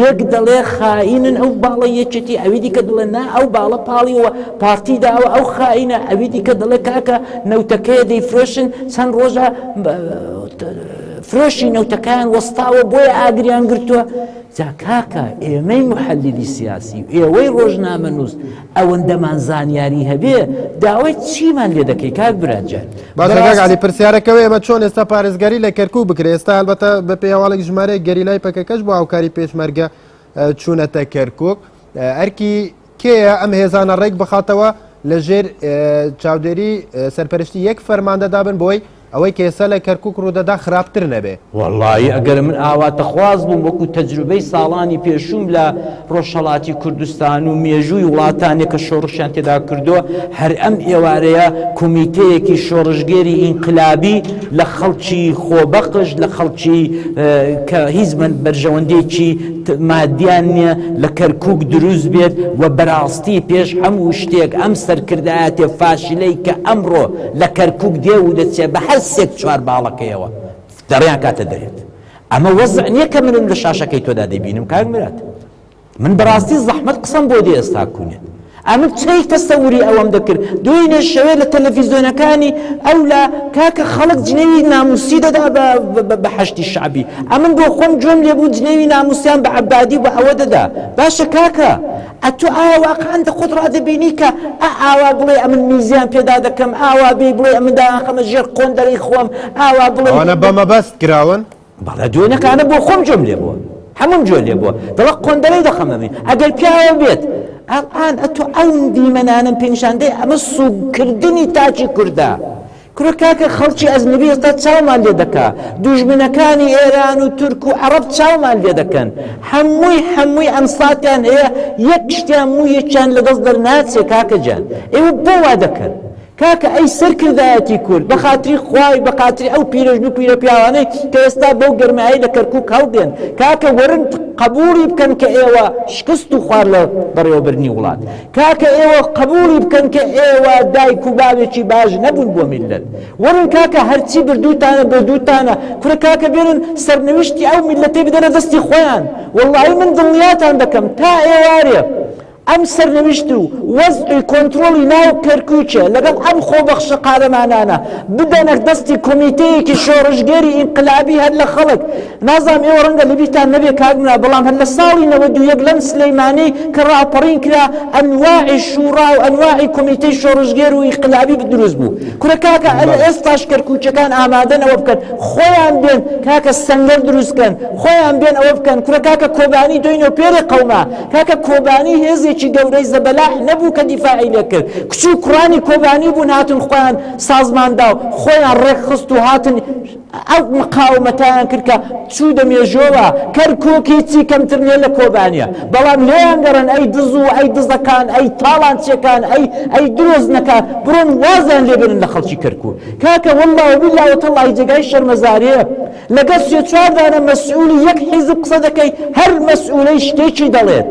یەک دەڵێ خائینن ئەو باڵە یەکێتی ئەوی دیکە دڵێ نا ئەو باڵە پاڵیەوە پارتی داوە ئەو خائینە ئەوی دیکە دەڵێ کاکە نەوتەکەیە دەیفرۆشن چەند ڕۆژە فرۆشی نەوتەکان وەستاوە بۆیە ئاگریان گرتووە جا کاکە ئێمەی محەلیلی سیاسی و ئێوەی ڕۆژنامە نووس ئەوەندەمان زانیاری هەبێ داوای چیمان لێ دەکەی کاک برا جان باشە کاک بەڕاستی عەلی پرسیارەکە وەیە ئێمە چۆن ئێستا پارێزگاری لە کەرکوک بکرێ ئێستا هەلبەتە بە پێی هەواڵێک ژمارەیەک گەریلای پەکەکەش بۆ هاوکاری پێشمەرگە اه، چوونەتە کەرکوک اه، ئەرکی کێیە ئەم هێزانە ڕێک بخاتەوە لە ژێر اه، چاودێری اه، سەرپەرشتی یەک فەرماندەدا بن بۆی ئەوەی کە ئێستا لە کەرکوک ڕوودەدا خراپتر نەبێ. وەڵایی ئەگەر من ئاواتەخواز بووم وەکو تەجروبەی ساڵانی پێشووم لە ڕۆژهەڵاتی کوردستان و مێژووی وڵاتانێک کە شۆڕشیان تێدا کردووە هەر ئەم ئێوارەیە کومیتەیەکی شۆڕشگێری ئینقلابی لە خەڵکی خۆبەخش لە خەڵکی کە هیچ بەرژەوەندێکی مادیان نیە لە کەرکوک دروست بێت و بەراستی پێش هەموو شتێک ئەم سەرکردایەتێ فاشلەی کە ئەمڕۆ لە کەرکوک دێ و دەچێ بە هەر سێک چوار باڵەکەیەوە دەڕیان کاتە دەرێت ئەمە وەزع نییە کە منم لە شاشەکەی تۆدا دەبینم کاک مرات من بەڕاستی زەحمەت قسەم بۆ دێ ئێستا کوونێت ئەمن چەی تەسەوری ئەوەم دەکرد دوێنێ شەوێ لە تەلەڤیزیۆنەکانی ئەو لە کاکە خەڵک جنێوی ناموسی دەدا بە حەشتی شعبی ئەمن بۆ خۆم گوێم لێبوو جنێوی ناموسیان بە عبادی بە ئەوە دەدا باشە کاکە ئەتۆ ئایا واقعەن دە خۆت ڕادەبینی کە ئا ئاوا بڵێی ئەمن میزیان پێدا دەکەم، ئاوا بێی بڵێی ئەمن دایانخەمە ژێر قۆندەرەی خۆم، ئاوا بڵێی. ئەوانە بە مەبەست کراون؟ بەڵێ دوێنەکانە بۆ خۆم گوێم لێ بووە. هەمووم گوێ لێ بووە. دەڵێ قۆندەرەی دەخەمە مین. ئەگەر پیاوە بێت. ئەڵآن ئەتۆ ئەو دیمەنانەم پێ نیشان دەی ئەمە سووک کردنی تاکی کوردە. کورە کاکە خەڵکی ئەزنبی ئێستا چاومان لێ دەکا دوژمنەکانی ئێران و تورک و عەڕەب چاومان لێ دەکەن حەمووی حەمووی ئەم ساتیان هەیە یەک شتیان موو یەکیان لە دەست دەرناچێ کاکە جان ئێوە بۆ وا دەکەن کاکە ئەی سەرکردایەتی کورد بە خاتری خوای بە خاتری ئەو پیرەژن و پیرە پیاوانەی کە ئێستا بەو گەرمایی لە کەرکوک هەڵدێن کاکە وەرن قبوڵی بکەن کە ئێوە شکست و خوار لە بەڕێوەبردنی وڵات کاکە ئێوە قبوڵی بکەن کە ئێوە دایک و باوێکی باش نەبوون بۆ میللەت وەرن کاکە هەرچی بردووتانە بۆ دووتانە کورە کاکە بێرن سەرنوشتی ئەو میللەتەی بدەنە دەستی خۆیان وەڵایی من دڵنیاتان دەکەم تا ئێوارێ ئەم سەرنوشت و وەزعی کۆنترۆڵی ناو کەرکووکێ لەگەڵ ئەم خۆبەخشە قارەمانانە بدەنە دەستی کۆمیتەیەکی شۆڕشگێری ئینقلابی هەر لە خەڵک نازانم ئێوە ڕەنگە لەبیرتان نەبێ کاک نورا بەڵام هەر لە ساڵی نەوەد و یەک لەم سلەیمانەی کە ڕاپەڕین کرا ئەنواعی شوڕا و ئەنواعی کۆمیتەی شۆڕشگێر و ئینقلابی دروست بوو کورە کاکە ئەل ئێستاش کەرکووکیەکان ئامادەن ئەوە بکەن خۆیان بێن کاکە سەنگەر دروست کەن خۆیان بێن ئەوە بکەن کورە کاکە کۆبانی دۆینۆ پێرێ قەوما کاکە کۆبانی هێزێکی گەورەی زەبەلاح نەبوو کە دیفاعی لێ کرد کچ و کوڕانی کۆبانی بوون هاتن خۆیان سازماندا و خۆیان ڕێکخست و هاتن ئەو مقاومەتەیان کرد کە چوودە مێژۆوە، کەرکووک هیچی کەمتر نیە لە کۆبانێ، بەڵام لێیان گەڕێن ئەی دز و ئەی دزەکان ئەی تاڵانچیەکان ئەی ئەی درۆزنەکان بڕۆن وازیان لێ بێنن لە خەڵکی کەرکووک. کاکە واللە و باللە و تاللەهی جێگای شەرمەزاریە لەگەڵ سێ چوار دانە مەسئولی یەک حیزب قسە دەکەی هەر مەسئولەی شتێکی دەڵێت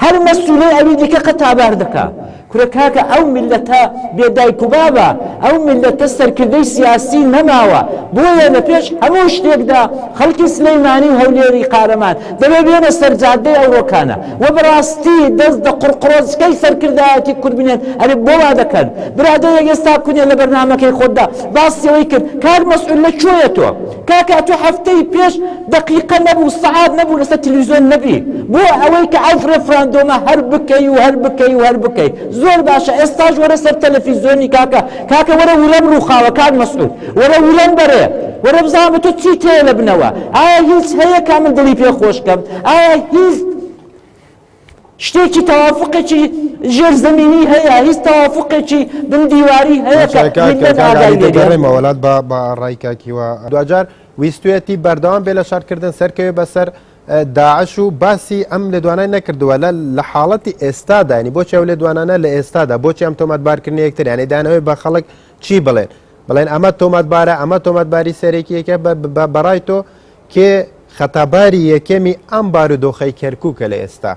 هەر مەسولەی ئەوی دیکە قەتابار دەکا. کورە کاکە ئەو میللەتە بێ دایک و بابە، ئەو میللەتە سەرکردەی سیاسی نەماوە، بۆیە لە پێش هەموو شتێکدا خەڵکی سلێیمانی و هەولێری قارەمان دەبێ بێنە سەر جادەی ئەوڕۆکانە و بەڕاستی دەست دە قڕقڕۆچکەی سەرکردایەتی کورد بنێن، ئەرێ بۆ وا دەکەن؟ برادەرێک ئێستا کونێ لە بەرنامەکەی خۆتدا باسی ئەوەی کرد کاک مەسعود لە کوێیە تۆ؟ کاکە تۆ هەفتەی پێش دەقیقە نەبوو سەعات نەبوو لەسەر تلویزیۆن نەبی بۆ ئەوەی کە ئەو ڕێفراندۆمە هەر بکەی و هەر بکەی و هەر بکەی زۆر باشە ئێستاش وەرە سەر تەلەفیزیۆنی کاکە کاکە وەرە ورەم ڕووخاوە کاک مەسعود وەرە ورەم بەرێ وەرە بزانم تۆ چی تێ لە بنەوە ئایا هیچ هەیە کا من دڵی پێ خۆشکەم ئایا هیچ شتێکی تەوافوقێکی ژێر زەمینی هەیە هیچ تەوافوقێکی بن دیواری هەیە کە هیندن ئاگای لێ بێ. دەڕێمە وەلات بە بە ڕای کاکیوە دواجار ویستویەتی بەردەوام بێ لە شەڕکردن سەرکەوێ بەسەر داعش و باسی ئەم لێدوانای نەکردووە لە لە حاڵەتی ئێستادا ینی بۆچی ئەو لێدوانانە لە ئێستادا بۆچی ئەم تۆمەتبارکردنی یەکتر یانی دانەوەی بە خەڵک چی بڵێن بڵێن ئەمە تۆمەتبارە ئەمە تۆمەتباری سەرێکی یەکە بە بە بەڕای تۆ کێ خەتاباری یەکەمی ئەم بارودۆخەی کەرکوکە لە ئێستا؟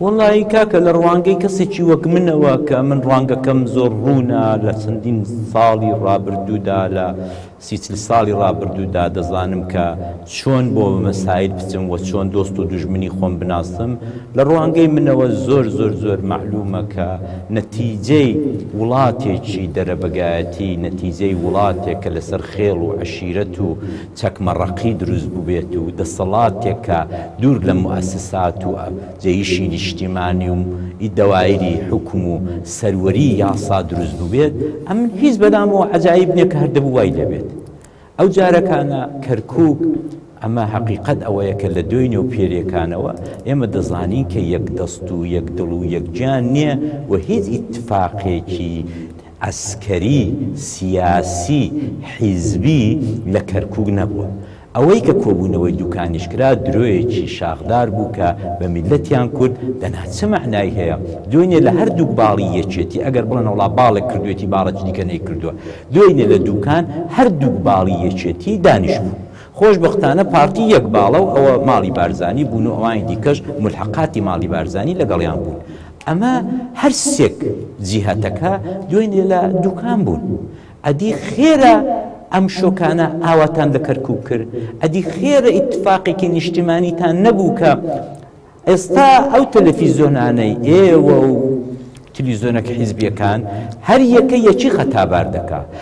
وەڵایی کاکە لە ڕوانگەی کەسێکی وەک منەوە کە ئەمن ڕوانگەکەم زۆر ڕوونە لە چەندین ساڵی ڕابردوودا لە سی چل ساڵی ڕابردوودا دەزانم کە چۆن بۆ مەسایل بچم وە چۆن دۆست و دوژمنی خۆم بناسم لە ڕوانگەی منەوە زۆر زۆر زۆر مەعلومە کە نەتیجەی وڵاتێکی دەرەبەگایەتی نەتیجەی وڵاتێکە لەسەر خێڵ و عەشیرەت و چەکمەڕەقی دروست بووبێت و دەسەڵاتێک کە دوور لە موئەسسات و جەیشی نیشتیمانی و ی دەوایری حوکم و سەروەریی یاسا دروست بووبێت، ئەمن هیچ بەلامەوە عەجایب نیە کە هەر دەبوو وای لێ بێت. ئەو جارەکانە کەرکووک ئەمە هەقیقەت ئەوەیە کە لە دۆینێ و پێرێکانەوە ئێمە دەزانین کە یەک دەست و یەک دڵ و یەک گیان نیە و هیچ ئیتفاقێکی عەسکەری، سیاسی، حیزبی لە کەرکوک نەبووە. ئەوەی کە کۆبوونەوەی دوکانیش کرا درۆیەکی شاخدار بوو کە بە میللەتیان کورد دەنا چ مەعنای هەیە؟ دوێنێ لە هەردووک باڵی یەکێتی، ئەگەر بڵێن وەڵا باڵێک کردوێتی باڵێکی دیکە نەیکردووە، دوێنێ لە دوکان هەردووک باڵی یەکێتی دانیشتبوو. خۆشبەختانە پارتی یەک باڵە و ئەوە ماڵی بارزانی بوون و ئەوانی دیکەش مولحەقاتی ماڵی بارزانی لەگەڵیان بوون. ئەمە هەر سێک جیهتەکە دوێنێ لە دوکان بوون ئەدی خێرە ئەم شۆکانە ئاواتان لە کەرکوب کرد ئەدی خێرە ئیتفاقێکی نیشتیمانیتان نەبوو کە ئێستا ئەو تەلەفیزۆنانەی ئێوە و تلیزۆنەکە حیزبیەکان هەر یەکە یەکی خەتابار دەکا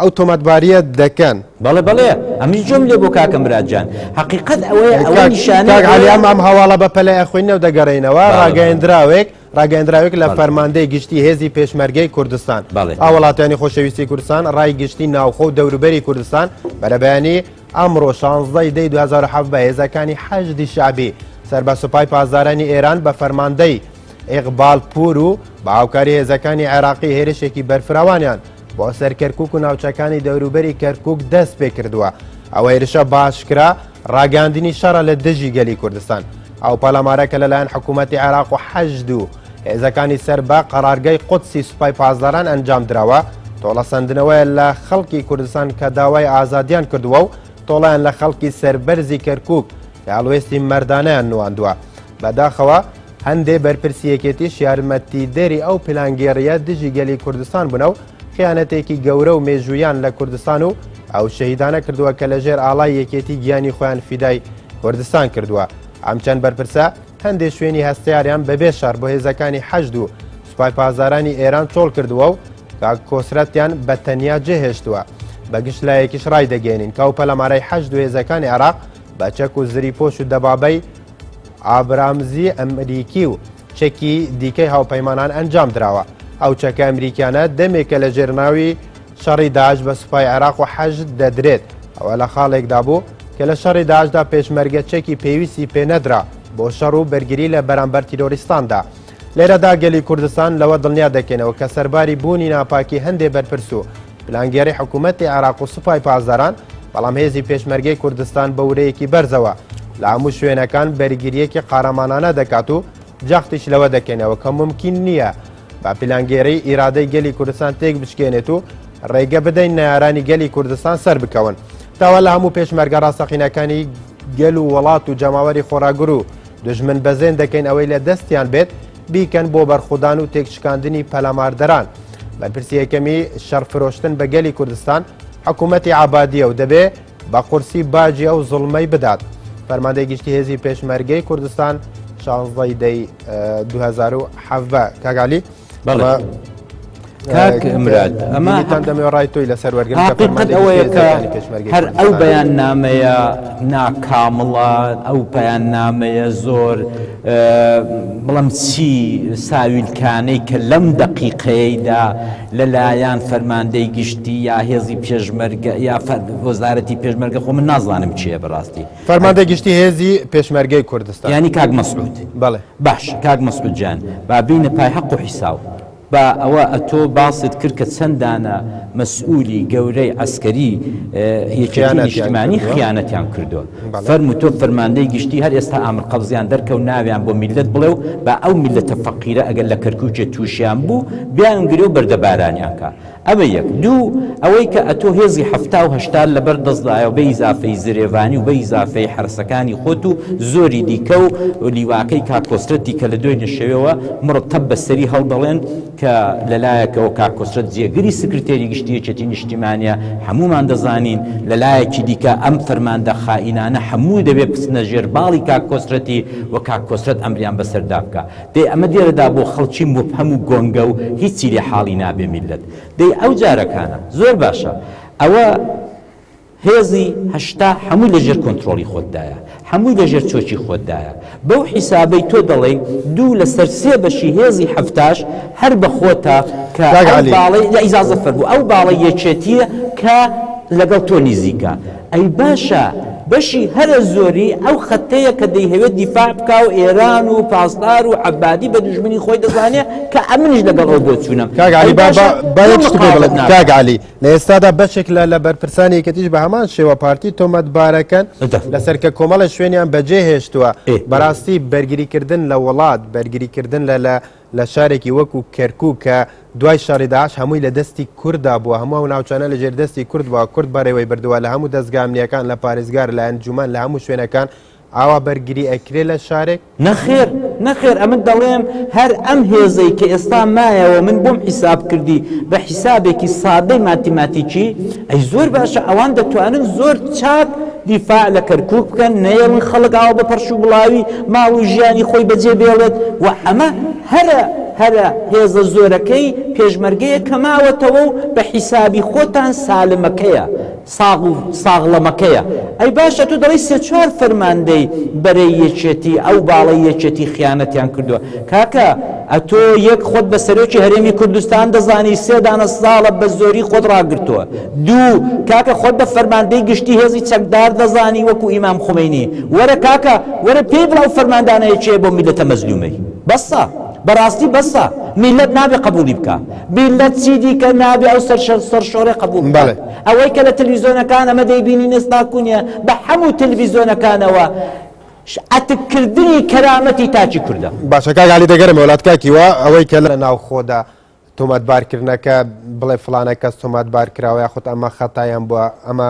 ئەو تۆمەتباریە دەکەن. بەڵێ بەڵێ ئەمنیش جۆم لێ بۆ کاکە مراد جان هەقیقەت ئەوەیە ئەوە نیشانەی کاک عەلی ئەوەیە ئەم ئەم هەواڵە بە پەلەی ئەخوێنینەوە دەگەڕێینەوە بەڵێ، بەڵێ. ڕاگەیەندراوێک ڕاگەیەندراوێک لە بەڵێ. فەرماندەی گشتی هێزی پێشمەرگەی کوردستان بەڵێ، بەڵێ. هاوڵاتیانی خۆشەویستی کوردستان ڕای گشتی ناوخۆ و دەوروبەری کوردستان بەرەبەیانی ئەمڕۆ شانزدە ی دەی دوو هەزار و حەڤدە هێزەکانی حەشدی شەعبی سەر بە سوپای پاسدارانی ئێران بە فەرماندەی ئیقبال پوور و بە هاوکاری هێزەکانی عێراقی هێرشێکی بەرفراوانیان بۆ سەر کەرکوک و ناوچەکانی دەوروبەری کەرکک دەست پێ کردووە ئەوە هێرشە باشکرا ڕاگەاندنی شەڕە لە دژی گەلی کوردستان ئەو پەلامارەکە لەلایەن حکوومەتتی عێراق و حەجد و هێزەکانی سەر بە قەرارگای قودسی سوپای پاسداران ئەنجام درراوە تۆڵەسەندنەوەیە لە خەڵکی کوردستان کە داوای ئازادیان کردووە و تۆڵیان لە خەڵکی سەربەرزی کەرکک کە هەڵوێستی مەردانیان نواندووە بەداخەوە هەندێ بەرپرسی یەکێتیش یارمەتیدەری ئەو پیلانگێڕییە دژی گەلی کوردستان بوونە و خیانەتێکی گەورە و مێژوویان لە کوردستان و ئەو شەهیدانە کردووە کە لەژێر ئاڵای یەکێتی گیانی خۆیان فیدای کوردستان کردووە ئەم چەند بەرپرسە هەندێ شوێنی هەستیاریان بەبێ شەڕ بۆ هێزەکانی حەشد و سوپای پازارانی ئێران چۆڵ کردووە و کاک کۆسرەتیان بە تەنیا جێهێشتووە بەگشت لایەکیش ڕای دەگەێنین کە و پەلەمارای حەشد و هێزەکانی عراق بە چەک و زری پۆش و دەبابەی ئابرامزی ئەمریکی و چەکی دیکەی هاوپەیمانان ئەنجام دراوە. ئەو چەکە ئەمریکیانە دەمێکە لە ژێر ناوی شەڕی داعش بە سوپای عێراق و حەشد دەدرێت، ئەوە لە خاڵێکدا بوو کە لە شەڕی داعشدا پێشمەرگە چەکی پێویستی پێ نەدرا بۆ شەڕ و بەرگری لە بەرامبەر تیرۆریستاندا. لێرەدا گەلی کوردستان لەوە دڵنیا دەکەینەوە کە سەرباری بوونی ناپاکی هەندێ بەرپرس و پلانگێڕی حکوومەتی عێراق و سوپای پاسداران، بەڵام هێزی پێشمەرگەی کوردستان بە ورەیەکی بەرزەوە لە هەموو شوێنەکان بەرگرییەکی قارەمانانە دەکات و جەختیش لەوە دەکەینەوە کە مومکین نییە بە پلانگێڕی ئیرادەی گەلی کوردستان تێک بشکێنێت و ڕێگە بدەین نەیارانی گەلی کوردستان سەر بکەون داوا لە هەموو پێشمەرگە ڕاستەقینەکانی گەل و وڵات و جەماوەری خۆراگر و دژمن بەزێن دەکەین ئەوەی لە دەستیان بێت بیکەن بۆ بەرخودان و تێکشکاندنی پەلاماردەران بەرپرسی یەکەمی شەڕ فرۆشتن بە گەلی کوردستان حکوومەتی عبادیە و دەبێ بە قورسی باجی ئەو زڵمەی بدات فەرماندەی گشتی هێزی پێشمەرگەی کوردستان شانزەی دەی 2010 کاگالی بەڵێ کاک مراد ئەمە هەتان دەمێ ڕای تۆی لەسەر وەرگن قەت ئەوەیە کە هەر ئەو بەیان نامەیە ناکامڵە ئەو پەیان نامەیە زۆر بڵم چی ساویلکانەی کە لەم دەقیقەیەیدا لەلایەن فەرماندەی گشتی یا هێزی پێشمەرگە یا وەزارەتی پێشمەرگە خۆ من نازانم چیە بەڕاستی فەرماندە گشتی هێزی پێشمەرگەی کوردستان ینی کاک مەسعود بەڵێ باش کاک مەسعود جان بابینە پای حەق و حیساو با ئەوە ئەتۆ باست کرد کە چەند دانە مەسئولی گەورەی عەسکەری یەکێتی نیشتیمانی خیانەتیان کردوە فەرمو تۆ فەرماندەی گشتی هەر ئێستا ئامر قەبزیان دەرکەو ناویان بۆ میللەت بڵێ و با ئەو میللەتە فەقیرە ئەگەر لە کەرکوکێ توشیان بوو بیان گرێ و بەردەبارانیان کا ئەمە یەک. دوو، ئەوەی کە ئەتۆ هێزی حەفتا و هەشتات لەبەر دەستدایە و بە ئیزافەی زرێڤانی و بە ئیزافەی حەرەسەکانی خۆت و زۆری دیکە و لیواکەی کاک کۆسرەتی کە لە دوێنێ شەوێوە مڕ تەپ بە سەری هەڵدەڵێن کە لە لایەکەوە کاک کۆسرەت جێگری سکرتێری گشتی یەکێتی نیشتیمانیە هەموومان دەزانین لە لایەکی دیکە ئەم فەرماندە خائینانە هەمووی دەبێ بچنە ژێر باڵی کاک کۆسرەتی و کاک کۆسرەت ئەمریان بەسەردا بکا. دەی ئەمە دێرەدا بۆ خەڵکی موبهەم و گۆنگە و هیچی لێ حاڵی نابێ میللەت دەی ئەو جارەکانە زۆر باشە ئەوە هێزی هەشتا هەمووی لە ژێر کۆنترۆڵی خۆتدایە هەمووی لە ژێر چۆکی خۆتدایە بەو حیسابەی تۆ دەڵێی دوو لە سەر سێ بەشی هێزی هەفتاش هەر بە خۆتە کە کاک ئەو عەلی. باڵەی لە ئیزازە فەرموو ئەو باڵە یەکێتیە کە لەگەڵ تۆ نیزیکە ئەی باشە بەشی هەرە زۆری ئەو خەتەیە کە دەیهەوێ دیفاع بکا و ئێران و پاسدار و عەبادی بە دوژمنی خۆی دەزانێ کە ئەمنیش لەگەڵ ئەو بۆچوونەم. کاک عەلی با با با یەک شت پێ بڵێم کاک عەلی لە ئێستادا بەشێک لە لە بەرپرسانی یەکێتیش بە هەمان شێوە پارتی تۆمەتبارەکەن لەسەر کە کۆمەڵێ شوێنیان بەجێ هێشتووە بەڕاستی بەرگریکردن لە وڵات بەرگریکردن لە لە لە شارێکی وەکو کەرکوک کە دوای شەڕی داعش هەمووی لە دەستی کوردا بووە، هەموو ئەو ناوچانە لە ژێر دەستی کورد بووە، کورد بەڕێوەی بردووە، لە هەموو دەزگا ئەمنییەکان، لە پارێزگار، لە ئەنجومەن، لە هەموو شوێنەکان ئاوا بەرگری ئەکرێ لە شارێک؟ نەخێر، نەخێر، ئەمن دەڵێم هەر ئەم هێزەی کە ئێستا مایەوە من بۆم حیساب کردی بە حیسابێکی سادەی ماتیماتیکی، ئەی زۆر باشە ئەوان دەتوانن زۆر چاک دیفاع لە کەرکوک بکەن نەیەڵن خەڵک ئاوا بە پەڕش و بڵاوی ماڵ و ژیانی خۆی بەجێ بێڵێت و ئەمە هەرە هەرە هێزە زۆرەکەی پێشمەرگەیە کە ماوەتەوە و بە حیسابی خۆتان سالمەکەیە ساغ و ساغڵەمەکەیە ئەی باشە تۆ دەڵی سێ چوار فەرماندەی بەرەی یەکێتی ئەو باڵەی یەکێتی خیانەتیان کردوە کاکە ئەتۆ یەک خۆت بە سەرۆکی هەرێمی کوردستان دەزانی سێ دانە ساڵە بە زۆری خۆت ڕاگرتووە دوو کاکە خۆت بە فەرماندەی گشتی هێزی چەکدار دەزانی وەکو ئیمام خومەینی وەرە کاکە وەرە پێی بڵاو فەرماندانەیە چێ بۆ میلەتە مەزلومەی بەسە بەڕاستی بەسە میلەت نابێ قبولی بکە میلەت چی دیکە نابێ ئەو سەرشەر سەرشۆرە قبول بڵێ ئەوەی کە لە تلویزیۆنەکان ئەمە دەیبینی نستا کونیە بە حەموو تلویزیۆنەکانەوە شئتک کردنی کەرامەتی تاکی کوردە. باشە کاک علی دەگەرە مەولات کاکی وە ئەوەی کە لە ناو خۆدا تۆمەت بار کردنەکە بڵێ فلانە کەس تۆمات بار کراوە یاخود ئەمە خەتایان بووە ئەمە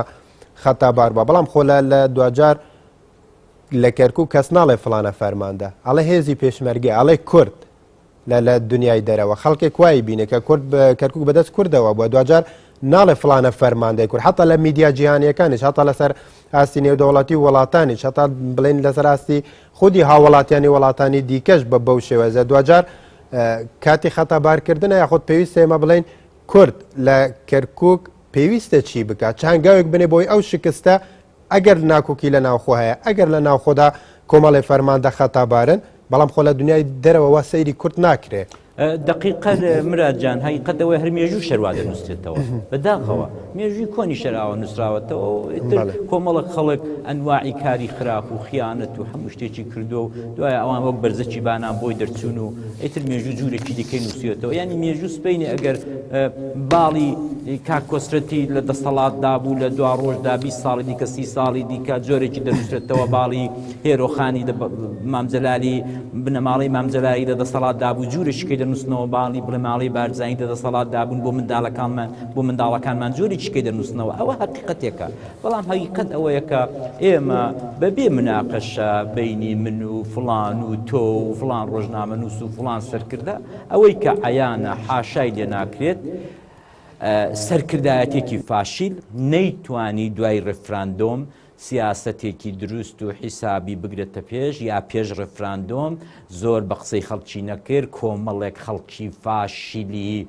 خەتا بار بووە بەڵام خۆ لە لە دواجار لە کەرکوو کەس ناڵێ فلانە فەرماندە ئەڵێ هێزی پێشمەرگێ ئەڵێ کورد لە لە دنیای دەرەوە خەڵکێک وای بینێ کە کورد کەرکک بەدەست کوردەوە بووە دواجار ناڵێ فلانە فەرماندەی کورد حتا لە میدیا جیهانیەکانی هەتا لەسەر ئاستی نێودەوڵەتی وڵاتانی هەتا بڵین لەسەر ئاستی خودی هاوڵاتیانی وڵاتانی دیکەش بە بەو شێوەزە دواجار کاتی خەتابارکردن یاخود پێویست ئێمە بڵین کورد لە کەرکک پێویستە چی بکات چانگاوێک بنێ بۆی ئەو شکستە ئەگەر ناکۆکی لە ناوخۆ هەیە، ئەگەر لە ناوخۆدا کۆمەڵێ فەرماندە خەتابارن، بەڵام خۆ لە دنیای دەرەوە وا سەیری کورد ناکرێ. دەقیقە مراد جان هەقیقەت ئەوەیە هەر مێژوو شەر وا دەنووسرێتەوە بە داخەوە مێژووی کۆنی شەر ئاوا نووسراوەتەوە و ئیتر کۆمەڵک خەڵک ئەنواعی کاری خراپ و خیانەت و هەموو شتێکی کردووە و دوایە ئەوان وەک بەرزەکی بانان بۆی دەرچوون و ئیتر مێژوو جوورێکی دیکەی نووسێتەوە ینی مێژوو سپینی ئەگەر باڵی کاکۆسرەتی لە دەسەڵات دابوو لە دو ڕۆژدا 20 ساڵی دیکە سی ساڵی دیکە جۆرێکی دەنووسێتەوە باڵی هێرۆخانی مامجللالی بنەماڵی مامجلایی لە دەسەڵات دابوو جوورێکیکە دەنووسنەوە باڵی بڵێماڵی بارزانانی لە دەسەڵات دابوون بۆ منداڵەکانمان بۆ منداڵەکانمان جۆرێکیکە دەنووسنەوە ئەوە هەقیقەتێکە بەڵام هەقیقەت ئەوەیە کە ئێمە بە بێ مناقەشە بینی من و فلان و تۆ و فلان ڕۆژنامە نووس و فلان سەرکردە ئەوەی کە عیانە حاشای لێ ناکرێت سەرکردایەتێکی فاشیل نەیتوانی دوای ڕفراندۆم سیاسەتێکی دروست و حیسابی بگرێتە پێش یا پێش ڕفراندۆم زۆر بە قسەی خەڵکی نەکرد کۆمەڵێک خەڵکی فاشیلی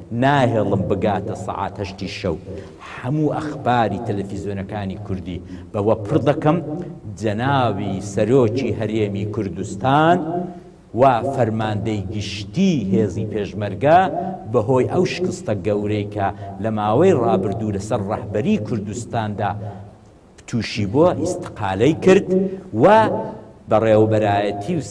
ناهێڵم بگاتە سەعات هەشتی شەو هەموو ئەخباری تەلەفیزۆنەکانی کوردی بەوە پڕ دەکەم جەناوی سەرۆکی هەرێمی کوردستان و فەرماندەی گشتی هێزی پێشمەرگە بەهۆی ئەو شکستە گەورەی کە لە ماوەی ڕابردوو لەسەر ڕەهبەری کوردستاندا تووشی بووە ئیستقالەی کرد و بەڕێوەبەرایەتی و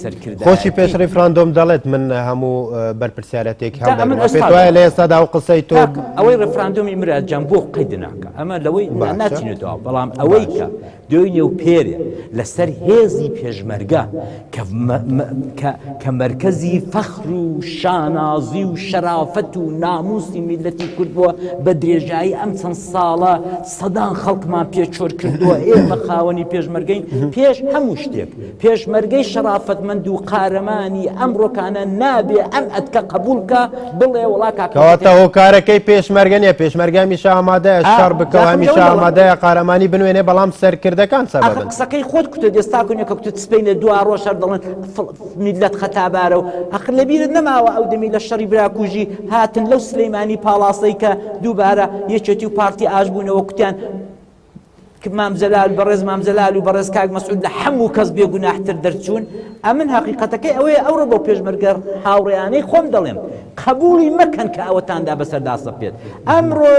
خۆشی پێش سەرکردایەتی ڕیفراندۆم دەڵێت من هەموو بەرپرسیارەتێک جا ئەمن هەڵدەگرمەوە پێت وایە ئێستاش لە ئێستادا ئەو قسەی تۆ کاکە ئەوەی ڕێفراندۆمی برا جان بۆ قەید ناکا ئەمە لەوەی نا باشە ناچینە دوا بەڵام ئەوەی کە باشە دوێنێ و پێرێ لەسەر هێزی پێشمەرگە کە مەرکەزی فەخر و شانازی و شەرافەت و ناموسی میللەتی کورد بووە، بە درێژایی ئەم چەند ساڵە سەدان خەڵکمان پێ چۆل کردووە، ئێمە خاوەنی پێشمەرگەین، پێش هەموو شتێک پێشمەرگەی شەرافەتمەند و قارەمانی ئەمڕۆکانە نابێ ئەم ئەتکە قەبووڵ بکا بڵێ وەڵا کاکە کەواتە پێشمەرگە هۆکارەکەی پێشمەرگە نییە، پێشمەرگە هەمیشە ئامادەیە ئا شەڕ بکا و جا خەمجە هەمیشە وەرە وەڵا ئامادەیە قارەمانی بنوێنێ بەڵام سەرکردەکان ئاخر سەبەبن. قسەکەی خۆت کوتت ئێستا کونێکە کوتت سبەینێ دوا ڕۆژ هەر دەڵێن میلەت خەتابارە و ئەخر لەبیرت نەماوە ئەو دەمی لە شەڕی براکوژی هاتن لەو سلەیمانی پاڵاسەی کە دووبارە یەکێتی و پارتی ئاش بوونەوە کوتیان مام جەلال بەڕێز مام جەلال و بەڕێز کاک مەسعود لە هەموو کەس بێگوناحتر دەرچوون ئەمن حقیقەتەکەی ئەوەیە ئەوڕۆ بۆ پێشمەرگەر هاوڕێیانەی خۆم دەڵێم قبولی مەکەن کە ئەوەتاندا بەسەردا سەپێت ئەمڕۆ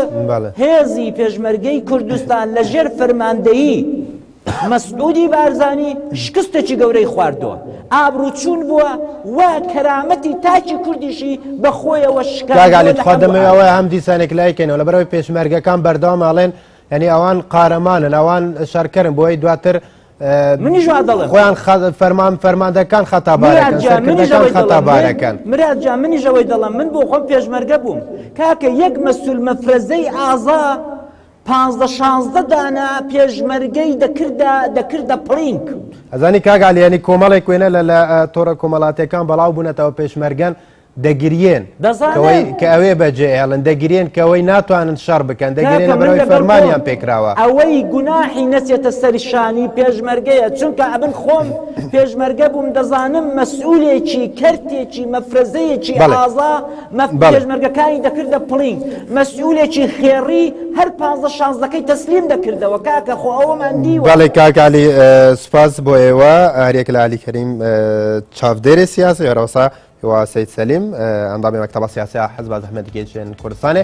هێزی پێشمەرگەی کوردستان لە ژێر فەرماندەیی مەسعودی بارزانی شکستێکی گەورەی خواردووە ئابروچوون بووە و کەرامەتی تاکی کوردیشی بەخۆیەوە شکاگالێت خواردەمەوە هەم دیسانێک لایکەینەوە لە بەرەوەی پێشمەرگەکان بەردەوام ئاڵێن ینی ئەوان قارەمانن ئەوان شارکەرن بۆی دواتر منی ژوا دەڵێ خۆیان فەرمان فەرماندەکان خەتا خەتا بارەکەن مراد جا منی ژەوەی دەڵم من بۆ خۆم پێشمەرگە بووم کاکە یەک مەسول مەفرەزەی ئازا پازدە شازدە دانە پێشمەرگەی دەکردە دەکردە پڵینک. ئەزانی کاگالی ینی کۆمەڵێک وێنە لە لە تۆڕە کۆمەڵاتەکان بەڵاو بوونەتەوە پێشمەرگەن دەگرێن کە ئەوێ بەجێ ئێڵن دەگرێن کەەوەی ناتوانن شەڕ بکەن دەگرێن بەرەوەی فەرمانیان پێکراوە ئەوەی گوناحی نەچێتە سەرشانی پێشمەرگەیە چونکە ئەبن خۆم پێشمەرگە بووم دەزانم مەسئولێکی کەرتێکی مەفرەزەیەکی ئازا مەف پێشمەرگەکانی دەکردە پڵینگ مەسئولێکی خێڕی هەر پازە شانزەکەی تەسلیم دەکردەوە کاکە خۆ ئەوەمان دیوە بەڵێ کاکالی سوپاس بۆ ئێوە هەرێک لە علی کەریم چاودێری سیاسی هەرەوەسا هیواسەی سەلیم ئەندامی مەکتەبە سیاسیا حەز بە زەحمەتی گەیشتێن کوردستانێ